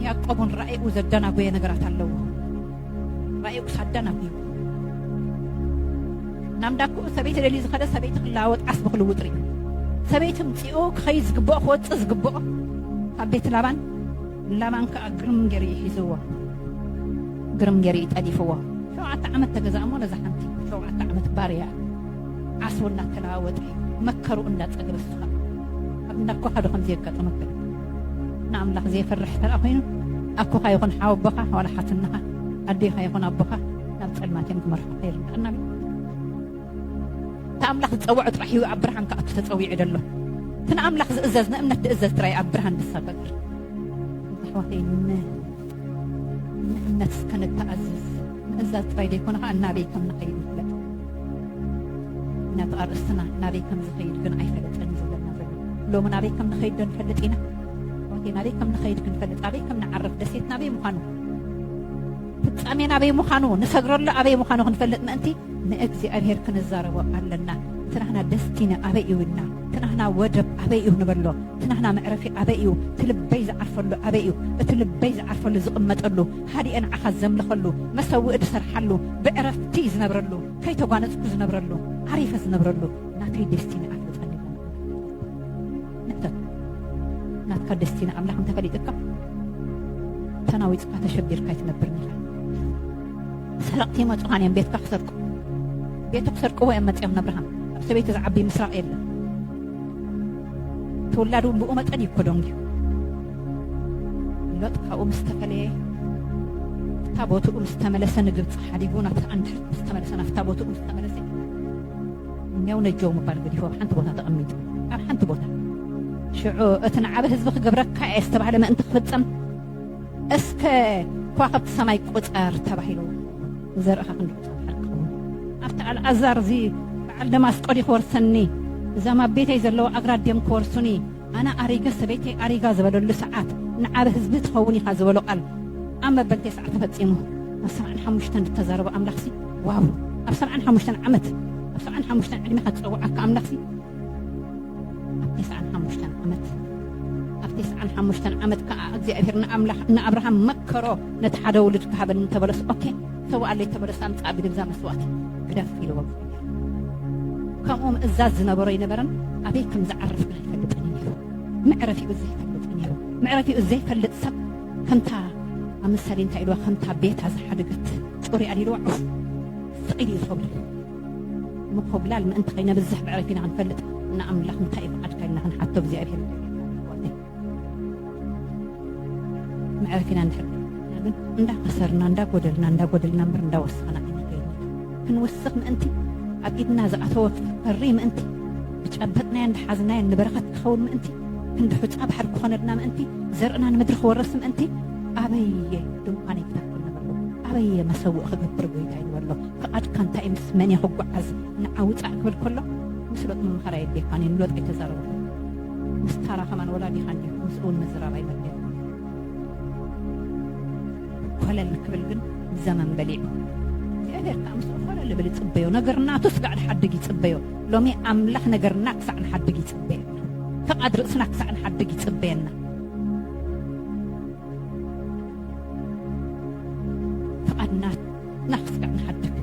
ያዕቆብ ን ራእይኡ ዘደናጎየ ነገራት ኣለዎ። ራእይኡ ክሳብ ደናጒዩ ናብ እንዳክኡ ሰበይቲ ደልዩ ዝኸደ ሰበይቲ ክለዋወጥ ዓስቢ ክልውጥ ርእዩ። ሰበይቲ ምጽኡ ክኸይድ ዝግብኦ ክወጽእ ዝግብኦ ካብ ቤት ላባን ላባን ከኣ ግርም ገይሩ እዩ ሒዝዎ፣ ግርም ገይሩ እዩ ጠሊፍዎ። ሸውዓተ ዓመት ተገዛእ እሞ ነዛ ሓንቲ ሸውዓተ ዓመት ባርያ ዓስቡ እናተለዋወጠ እዩ መከርኡ እንዳጸገበ እሱ ከኣ ኣብ እንዳ ኣኮኻ ዶ ከምዚ የጋጥመካ? ንኣምላኽ ዘይፈርሕ እንተ ደኣ ኮይኑ ኣኮኻ ይኹን ሓወቦኻ ዋላ ሓትነኻ ኣዴኻ ይኹን ኣቦኻ ናብ ጸልማት እዮም ክመርሑኻ ይርድኣና። እቲ ኣምላኽ ዝጸውዖ ጥራሕ እዩ ኣብ ብርሃን ክኣቱ ተጸዊዑ ደሎ እቲ ንኣምላኽ ዝእዘዝ ንእምነት ድእዘዝ ጥራይ ኣብ ብርሃን ድሳገግር ኣሕዋተይ ንእምነት እስከ ንተኣዝዝ ምእዛዝ ጥራይ ዘይኮነ ከዓ እናበይ ከም ንኸይድ ንፍለጥ ነቲ ኣርእስትና ናበይ ከም ዝኸይድ ግን ኣይፈለጠን እዩ ዘለና ዘሎ ሎሚ ናበይ ከም ንኸይድ ዶ ንፈልጥ ኢና ወቴ ናበይ ከም ንኸይድ ክንፈልጥ ኣበይ ከም ንዓርፍ ደሴት ናበይ ምዃኑ ፍጻሜ ናበይ ምዃኑ ንሰግረሉ ኣበይ ምዃኑ ክንፈልጥ ምእንቲ ንእግዚኣብሔር ክንዛረቦ ኣለና ትናህና ደስቲኒ ኣበይ እዩ እና ትናህና ወደብ ኣበይ እዩ ንበሎ ትናህና መዕረፊ ኣበይ እዩ እቲ ልበይ ዝዓርፈሉ ኣበይ እዩ እቲ ልበይ ዝዓርፈሉ ዝቕመጠሉ ሃዲኤ ንዓኻ ዘምልኸሉ መሰውኢ ዝሰርሓሉ ብዕረፍቲ ዝነብረሉ ከይተጓነፅኩ ዝነብረሉ ዓሪፈ ዝነብረሉ ናተይ ደስቲኒ ኣፍልጠኒ ንሕተት ናትካ ደስቲኒ ኣምላኽ እንተፈሊጥካ ተናዊፅካ ተሸቢርካ ኣይትነብርን ኢኻ ሰረቕቲ ይመጹኻን እዮም ቤትካ ክሰርቁ ቤቱ ክሰርቅዎ እዮም መጺኦም ነብርሃም ኣብ ሰበይቲ ዝዓቢ ምስራቕ የለን ተወላዱ ብኡ መጠን እዩ ኮዶንግ እዩ ሎጥ ካብኡ ምስ ተፈለየ እታ ቦትኡ ምስ ተመለሰ ንግብፂ ሓዲጉ ናብቲ ኣንድሕር ምስ ተመለሰ ናብታ ቦትኡ ምስ ተመለሰ እኛው ነጀው ምባል ገዲፉ ኣብ ሓንቲ ቦታ ተቐሚጡ ኣብ ሓንቲ ቦታ ሽዑ እቲ ንዓበ ህዝቢ ክገብረካ እየ ዝተባህለ ምእንቲ ክፍፀም እስከ ኳኸብቲ ሰማይ ቁጸር ተባሂሉ ንዘርእኻ ክንድቅጾ ድሓር ክኸውን ኣብቲ ኣልኣዛር እዚ በዓል ደማስቆ ድዩ ክወርሰኒ እዛም ኣብ ቤተይ ዘለዉ ኣግራት ድዮም ክወርሱኒ ኣነ ኣሪገ ሰበይተይ ኣሪጋ ዝበለሉ ሰዓት ንዓብ ህዝቢ ትኸውን ኢኻ ዝበሎ ቃል ኣብ መበል ቴስዓ ተፈጺሙ ኣብ ሰብዓን ሓሙሽተን ዝተዛረቦ ኣምላኽሲ ዋው ኣብ ሰብዓን ሓሙሽተን ዓመት ኣብ ሰብዓን ሓሙሽተን ዕድሜኻ ዝጸውዓካ ኣምላኽሲ ትስዓን ሓሙሽተን ዓመት ኣብ ትስዓን ሓሙሽተን ዓመት ከዓ እግዚኣብሔር ንኣምላኽ ንኣብርሃም መከሮ ነቲ ሓደ ውሉድ ክሃበኒ እንተበለስ ኦኬ ሰዋኣለይ ተበለስ ኣምፃእ ብድብዛ መስዋእቲ ግደፍ ኢልዎ ከምኡ ምእዛዝ ዝነበሮ ኣይነበረን ኣበይ ከም ዝዓርፍ ግን ኣይፈልጥን እዩ ነይሩ መዕረፊኡ ዘይፈልጥ እዩ ነይሩ መዕረፊኡ ዘይፈልጥ ሰብ ከምታ ኣብ ምሳሌ እንታይ ኢልዋ ከምታ ቤታ ዝሓደገት ፅሩያ ኢልዋ ዑፍ ስቂል እዩ ሰብሉ ምኮብላል ምእንቲ ከይነብዝሕ ብዕረፊና ክንፈልጥ ንኣምላኽ እንታይ እዩ ፍቓድካ ኢልና ክንሓቶ እግዚኣብሄር ይገብረና ኣሕዋተይ መዕረፊና እንድሕር ከይንና ግን እንዳኸሰርና እንዳጎደልና እንዳጎደልና እምበር እንዳወሰኽና ኣይንኸይድን ክንውስኽ ምእንቲ ኣብ ኢድና ዝኣተወ ክፈሪ ምእንቲ ብጨበጥናዮ እንዳሓዝናዮ ንበረኸት ክኸውን ምእንቲ ክንዲ ሑፃ ባሕሪ ክኾነልና ምእንቲ ዘርእና ንምድሪ ክወርስ ምእንቲ ኣበየ ድንኳነይ ክተክል ንበሎ ኣበየ መሰውእ ክገብር ጎይታ ይበሎ ፍቓድካ እንታይ እዩ? ምስ መን እየ ክጓዓዝ? ንዓ ውጻእ ክብል ከሎ ምስ ሎጥ ምምኻር ኣየድልየካን እዩ። ንሎጥ ኣይተዛረቦን። ምስ ታራ ከማን ወላዲኻ እንድዩ። ምስኡውን ምዝራብ ኣይመድልን። ኮለል ክብል ግን ዘመን በሊዑ። እግዚኣብሔር ከኣ ምስኡ ኮለል እብል ይጽበዮ። ነገር ናቱ ስጋዕ ንሓድግ ይጽበዮ። ሎሚ ኣምላኽ ነገርና ክሳዕ ንሓድግ ይጽበየና። ፍቓድ ርእስና ክሳዕ ንሓድግ ይጽበየና። ፍቓድ ናቱ ናፍቀ ንሓድግ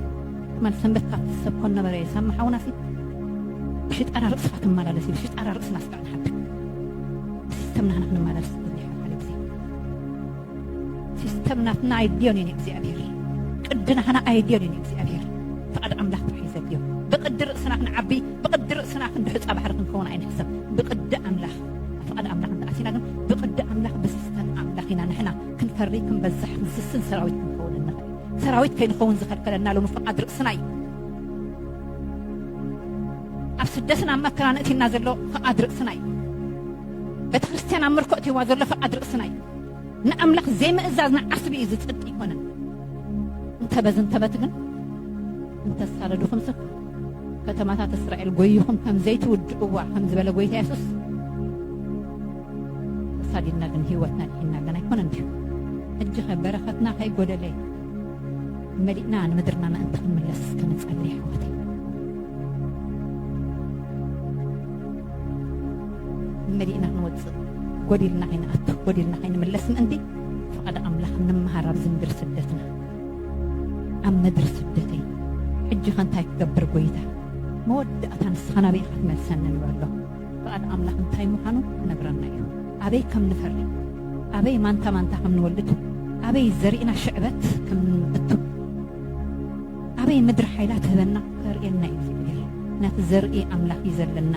ትማል ሰንበት ካብቲ ሰብ ኮን ነበረ የሳሚ ሓውና ሲ ብሽጣራ ርእስኻ ትመላለስ እዩ ብሽጣራ ርእስ ናፍቀ ንሓድግ ብሲስተም ናህና ክንመላለስ ዝብልሕ ዓለ ግዜ ሲስተም ናትና ኣይድዮን እየን እግዚኣብሔር ቅዲ ናህና ኣይድዮን እየን እግዚኣብሔር ፍቓድ ኣምላኽ ጥራሕ ዘድዮ ብቅዲ ርእስና ክንዓቢ ብቅዲ ርእስና ክንድሕፃ ባሕሪ ክንከውን ኣይንሕሰብ ብቅዲ ኣምላኽ ፍቓድ ኣምላኽ እንተኣሲና ግን ብቅዲ ኣምላኽ ብሲስተም ኣምላኽ ኢና ንሕና ክንፈሪ ክንበዝሕ ንስስን ሰራዊት ክንኸውን እንኽእል ሰራዊት ከይንኸውን ዝኸልከለና ሎሚ ፍቓድ ርእስና እዩ ኣብ ስደትን ኣብ መከራ ነእቲና ዘሎ ፍቓድ ርእስና እዩ ቤተ ክርስቲያን ኣብ ምርኮ እትዋ ዘሎ ፍቓድ ርእስና እዩ ንኣምላኽ ዘይምእዛዝ ንዓስቢ እዩ ዝፅድቅ ይኮነን እንተበዝ እንተበት ግን እንተሳደዱኹም ስብ ከተማታት እስራኤል ጎይኹም ከም ዘይትውድእዋ ከም ዝበለ ጎይታ የሱስ ተሳዲድና ግን ሂወትና ኣድሒንና ግን ኣይኮነን ድዩ ሕጂኸ በረኸትና ከይጎደለ መሊእና ንምድርና ምእንቲ ክንምለስ እስከ ንጸሊ ኣሕዋተይ መሊእና ክንወጽእ ጎዲልና ከይንኣቱ ጎዲልና ከይንምለስ ምእንቲ ፍቓድ ኣምላኽ ንምሃር ኣብዚ ምድሪ ስደትና ኣብ ምድሪ ስደተይ ሕጂኸ እንታይ ክገብር ጎይታ መወዳእታ ንስኻ ናበይ ኢኻ ትመልሰኒ ንበሎ ፍቓድ ኣምላኽ እንታይ ምዃኑ ክነግረና እዩ። ኣበይ ከም ንፈሪ፣ ኣበይ ማንታ ማንታ ከም ንወልድ፣ ኣበይ ዘሪእና ሽዕበት ከም ንእቱ፣ ኣበይ ምድሪ ሓይላ ትህበና ከርእየና እዩ እግዚኣብሔር። ምክንያቱ ዘርኢ ኣምላኽ እዩ ዘለና።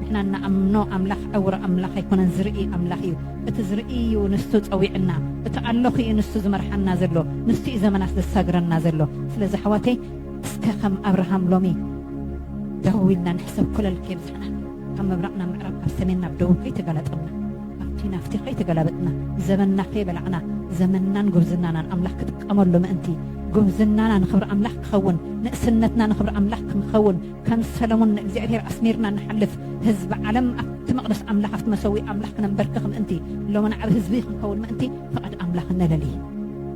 ንሕና እንኣምኖ ኣምላኽ ዕውር ኣምላኽ ኣይኮነን፣ ዝርኢ ኣምላኽ እዩ። እቲ ዝርኢ እዩ ንሱ ጸዊዕና፣ እቲ ኣለኹ እዩ ንሱ ዝመርሓና ዘሎ፣ ንሱ እዩ ዘመናት ዘሳግረና ዘሎ። ስለዚ ኣሕዋተይ እስከ ከም ኣብርሃም ሎሚ ደው ኢልና ንሕሰብ ኮለል ከይተረዳዳእና፣ ካብ ምብራቕ ናብ ምዕራብ፣ ካብ ሰሜን ናብ ደቡብ ከይተጋላጠምና፣ ካብቲ ናብቲ ከይተገላበጥና፣ ዘመንና ከይበላዕና፣ ዘመንናን ጉብዝናናን ኣምላኽ ክጥቀመሉ ምእንቲ፣ ጉብዝናና ንኽብሪ ኣምላኽ ክኸውን፣ ንእስነትና ንኽብሪ ኣምላኽ ክንኸውን፣ ከም ሰለሙን ንእግዚኣብሔር ኣስሚርና ንሓልፍ፣ ህዝቢ ዓለም ኣብቲ መቕደስ ኣምላኽ ኣብቲ መሰውኢ ኣምላኽ ክነምበርክኽ ምእንቲ፣ ሎምና ዓቢ ህዝቢ ክንከውን ምእንቲ ፍቓድ ኣምላኽ ነለሊ።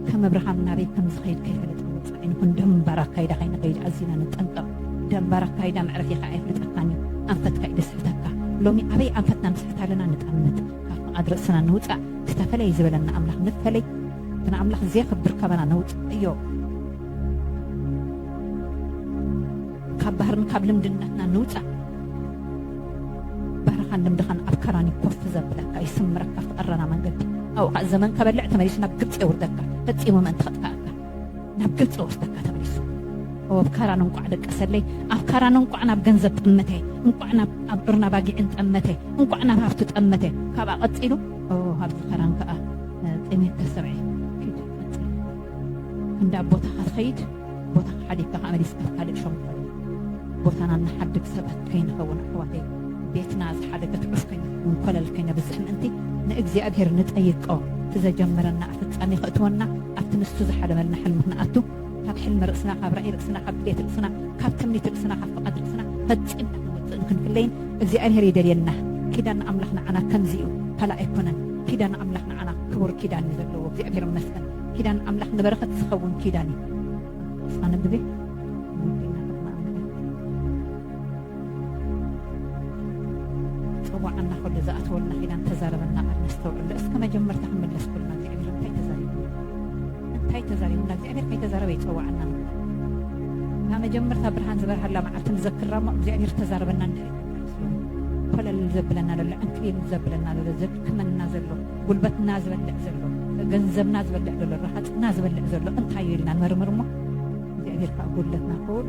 ከም እብርሃም ናበይ ከም ዝኸይድ ከይፈለጠ ወጸ። ኣይንኹን ደንባር ኣካይዳ ከይንኸይድ ኣዚና ንጠንቀቕ። ደንባር ኣካይዳ መዕረፊኻ ኣየፍልጠካን እዩ። ኣንፈትካ እዩ ደስሕተካ። ሎሚ ኣበይ ኣንፈትና ንስሕት ኣለና ንጠምት። ካብ ፍቓድ ርእስና ንውጻእ። እቲ ተፈለዪ ዝበለና ኣምላኽ ንፈለይ። እቲ ንኣምላኽ ዜኽብር ካባና ነውጽኣዮ። ካብ ባህርን ካብ ልምድነትና ንውጻእ። ባህርኻን ልምድኻን ኣብ ካራን እዩ ኮፍ ዘብለካ፣ ይስምረካ፣ ኣብቲ ቀረና መንገዲ። ኣብኡ ኸኣ ዘመን ከበልዕ ተመሊሱ ናብ ግብጺ የውርደካ፣ ፈጺሙ ምእንቲ ኸጥፍኣካ። ናብ ገጽ ወስደካ ተመሊሱ ኣብ ካራን እንቋዕ ደቀሰለይ ኣብ ካራን እንቋዕ ናብ ገንዘብ ጠመተ እንቋዕ ናብ ኣብ ዑርና ባጊዕን ጠመተ እንቋዕ ናብ ሃፍቲ ጠመተ ካብኣ ቀጺሉ ኣብዚ ካራን ከኣ ጠሜትካ ስርዐ ኪድ ቀጽል እንዳ ቦታኻ ትኸይድ ቦታኻ ሓዲግካ ከኣ መሊስካ ካልእ ሸንኮል ቦታና ንሓድግ ሰባት ከይንኸውን ኣሕዋተይ ቤትና ዝሓደገት ዑፍከኛ ወይ ኮለል ከይነብዝሕ ምእንቲ ንእግዚኣብሄር ንጠይቆ እቲ ዘጀመረና ኣብ ፍጻሜ ከእትወና ኣብቲ ንሱ ዝሓለመልና ሕልሚ ክንኣቱ ካብ ሕልሚ ርእስና ካብ ራኢ ርእስና ካብ ድሌት ርእስና ካብ ትምኒት ርእስና ካብ ፍቓድ ርእስና ፈጺምና ክንወጽእን ክንፍለይን እግዚኣብሄር ይደልየና ኪዳን ኣምላኽ ንዓና ከምዚ እዩ ካልእ ኣይኮነን ኪዳን ኣምላኽ ንዓና ክቡር ኪዳን እዩ ዘለዎ እግዚኣብሄር ይመስገን ኪዳን ኣምላኽ ንበረኸት ዝኸውን ኪዳን እዩ እስካ ነብቤ ጸዋዕና ኩሉ ዝኣተወልና ኪዳን ተዛረበና ቃል ነስተውዕሎ እስከ መጀመርታ ክንምለስ ኩልና እግዚኣብሔር እንታይ ተዛሪብና እንታይ ተዛሪብና እግዚኣብሔር ከይተዛረበ ይጸዋዕና ናብ መጀመርታ ብርሃን ዝበርሃላ መዓልቲ ንዘክራ እሞ እግዚኣብሔር ተዛረበና እንድሕሪ ኮለል ዘብለና ዘሎ ዕንክሊል ዘብለና ዘሎ ዘድክመና ዘሎ ጉልበትና ዝበልዕ ዘሎ ገንዘብና ዝበልዕ ዘሎ ረሃፅና ዝበልዕ ዘሎ እንታይ እዩ ኢልና ንመርምር እሞ እግዚኣብሔር ከዓ ጉድለትና ክውሉ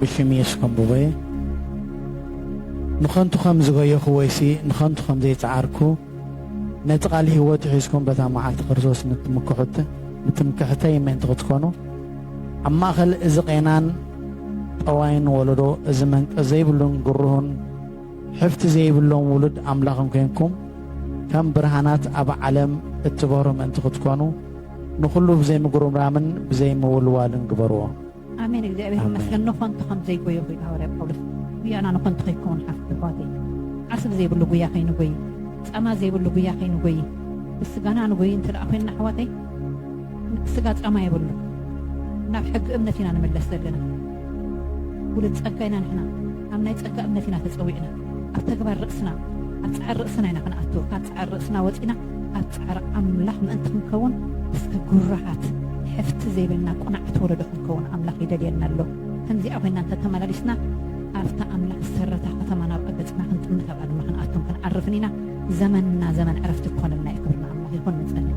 ብሽም የሱስ ከም ዝጎየ ንኸንቱ ከም ዝጎየኹ ወይሲ ንኸንቱ ከም ዘይጸዓርኩ ነቲ ቃል ህይወት ሒዝኩም በታ መዓልቲ ክርስቶስ ንትምክሑት ንትምክሕተይ ምእንቲ ክትኮኑ ኣብ ማእኸል እዚ ቄናን ጠዋይን ወለዶ እዚ መንቀ ዘይብሉን ግሩሁን ሕፍቲ ዘይብሎም ውሉድ ኣምላኽን ኮይንኩም ከም ብርሃናት ኣብ ዓለም እትበሩ ምእንቲ ክትኮኑ ንኹሉ ብዘይምጉርምራምን ብዘይምውልዋልን ግበርዎ። ኣሜን። እግዚኣብሔር ይመስገን። ንኾንቱ ከም ዘይጎየ ኮይኑ ሃዋርያ ጳውሎስ ጉያና ንኾንቱ ከይከውን ሓፍት ኣሕዋተይ ዓስብ ዘይብሉ ጉያ ከይንጎይ ጻማ ዘይብሉ ጉያ ከይንጎይ ብስጋና ንጎይ እንተ ኮይንና ኣሕዋተይ ስጋ ጻማ የብሉን ናብ ሕጊ እምነት ኢና ንምለስ ዘለና ውሉድ ጸጋ ኢና ንሕና ኣብ ናይ ጸጋ እምነት ኢና ተጸዊዕና ኣብ ተግባር ርእስና ኣብ ጻዕሪ ርእስና ኢና ክንኣቱ ካብ ጻዕሪ ርእስና ወጺና ኣብ ጻዕሪ ኣምላኽ ምእንቲ ክንከውን እስከ ጉራሃት ሕፍቲ ዘይብልና ቁናዕት ወለዶ ክንከውን ኣምላኽ ይደልየና ኣሎ ከምዚኣ ኮይና እንተ ተመላሊስና ኣብታ ኣምላኽ ዝሰረታ ከተማ ናብ ኣገጽና ክንጥምት ኣብኣ ድማ ክንኣቱን ክንዓርፍን ኢና ዘመንና ዘመን ዕረፍቲ ክኾነልና እዩ ክብርና ኣምላኽ ይኹን ንጸልይ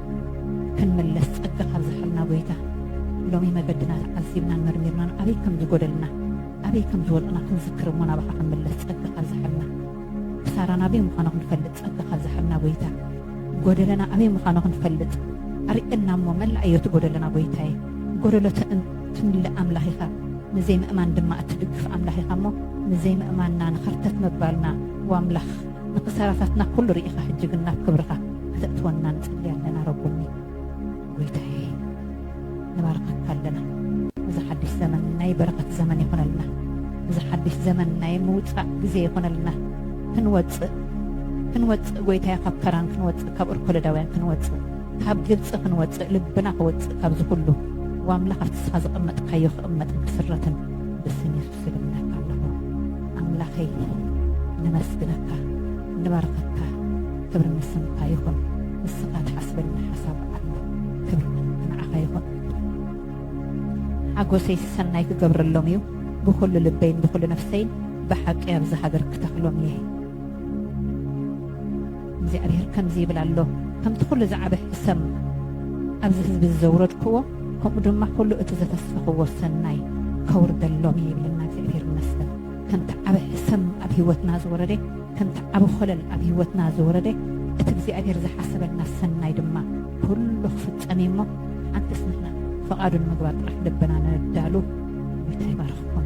ክንምለስ ጸጋ ካብ ዝሃበና ጎይታ ሎሚ መገድና ተዓዚብናን መርሚርናን ኣበይ ከም ዝጎደልና ኣበይ ከም ዝወድቕና ክንዝክር እሞ ናባኻ ክንምለስ ጸጋ ካብ ዝሃበና ክሳራና ኣበይ ምዃኑ ክንፈልጥ ጸጋ ካብ ዝሃበና ጎይታ ጎደለና ኣበይ ምዃኑ ክንፈልጥ ኣርእየና እሞ መላእ እዮ እቲ ጎደለና ጎይታየ ጎደሎ ትምልእ ኣምላኽ ኢኻ ንዘይምእማን ድማ እትድግፍ ኣምላኽ ኢኻ እሞ ንዘይምእማንና ንኸርተት ምባልና ዋምላኽ ንክሳራታትና ኩሉ ሪኢካ ሕጂ ግን ናብ ክብርካ ክተእትወና ንጽሊ ኣለና ረቡኒ ጎይታየ ንባርካካ ኣለና እዚ ሓዲሽ ዘመን ናይ በረከት ዘመን ይኮነልና እዚ ሓዲሽ ዘመን ናይ ምውጻእ ግዜ ይኮነልና ክንወጽእ ክንወጽእ ጎይታየ ካብ ከራን ክንወጽእ ካብ እርኮለዳውያን ክንወጽእ ካብ ግብጺ ክንወጽእ ልብና ክወጽእ ካብዚ ኩሉ ዋምላኽ ኣብቲ ስኻ ዝቐመጥካዮ ክቕመጥን ክስረትን ብስም ኣመስግነካ ኣለኹ ኣምላኸይ ነመስግነካ ንባርኸካ ክብሪ ንስምካ ይኹን ንስኻ ትሓስበኒ ሓሳብ ኣሎ ክብሪ ንዓኻ ይኹን ሓጎሰይ ሰናይ ክገብረሎም እዩ ብኩሉ ልበይን ብኩሉ ነፍሰይን ብሓቂ ኣብዚ ሃገር ክተኽሎም እየ እግዚኣብሔር ከምዚ ይብል ኣሎ፣ ከምቲ ዅሉ ዝዓበ ሕሰም ኣብዚ ህዝቢ እዚ ዘውረድክዎ፣ ከምኡ ድማ ኵሉ እቲ ዘፈሰኽዎ ሠናይ ከውርደሎም እየ ይብለና እግዚኣብሔር ይመስገን። ከምቲ ዓበ ሕሰም ኣብ ሕይወትና ዝወረደ፣ ከምቲ ዓቢ ዀለል ኣብ ሕይወትና ዝወረደ፣ እቲ እግዚኣብሔር ዝሓሰበልና ሠናይ ድማ ኵሉ ክፍጸም እዩ እሞ፣ ኣንተስ ንሕና ፍቓዱ ንምግባር ጥራሕ ልብና ነዳሉ። ጐይታ ይባርኽኩም።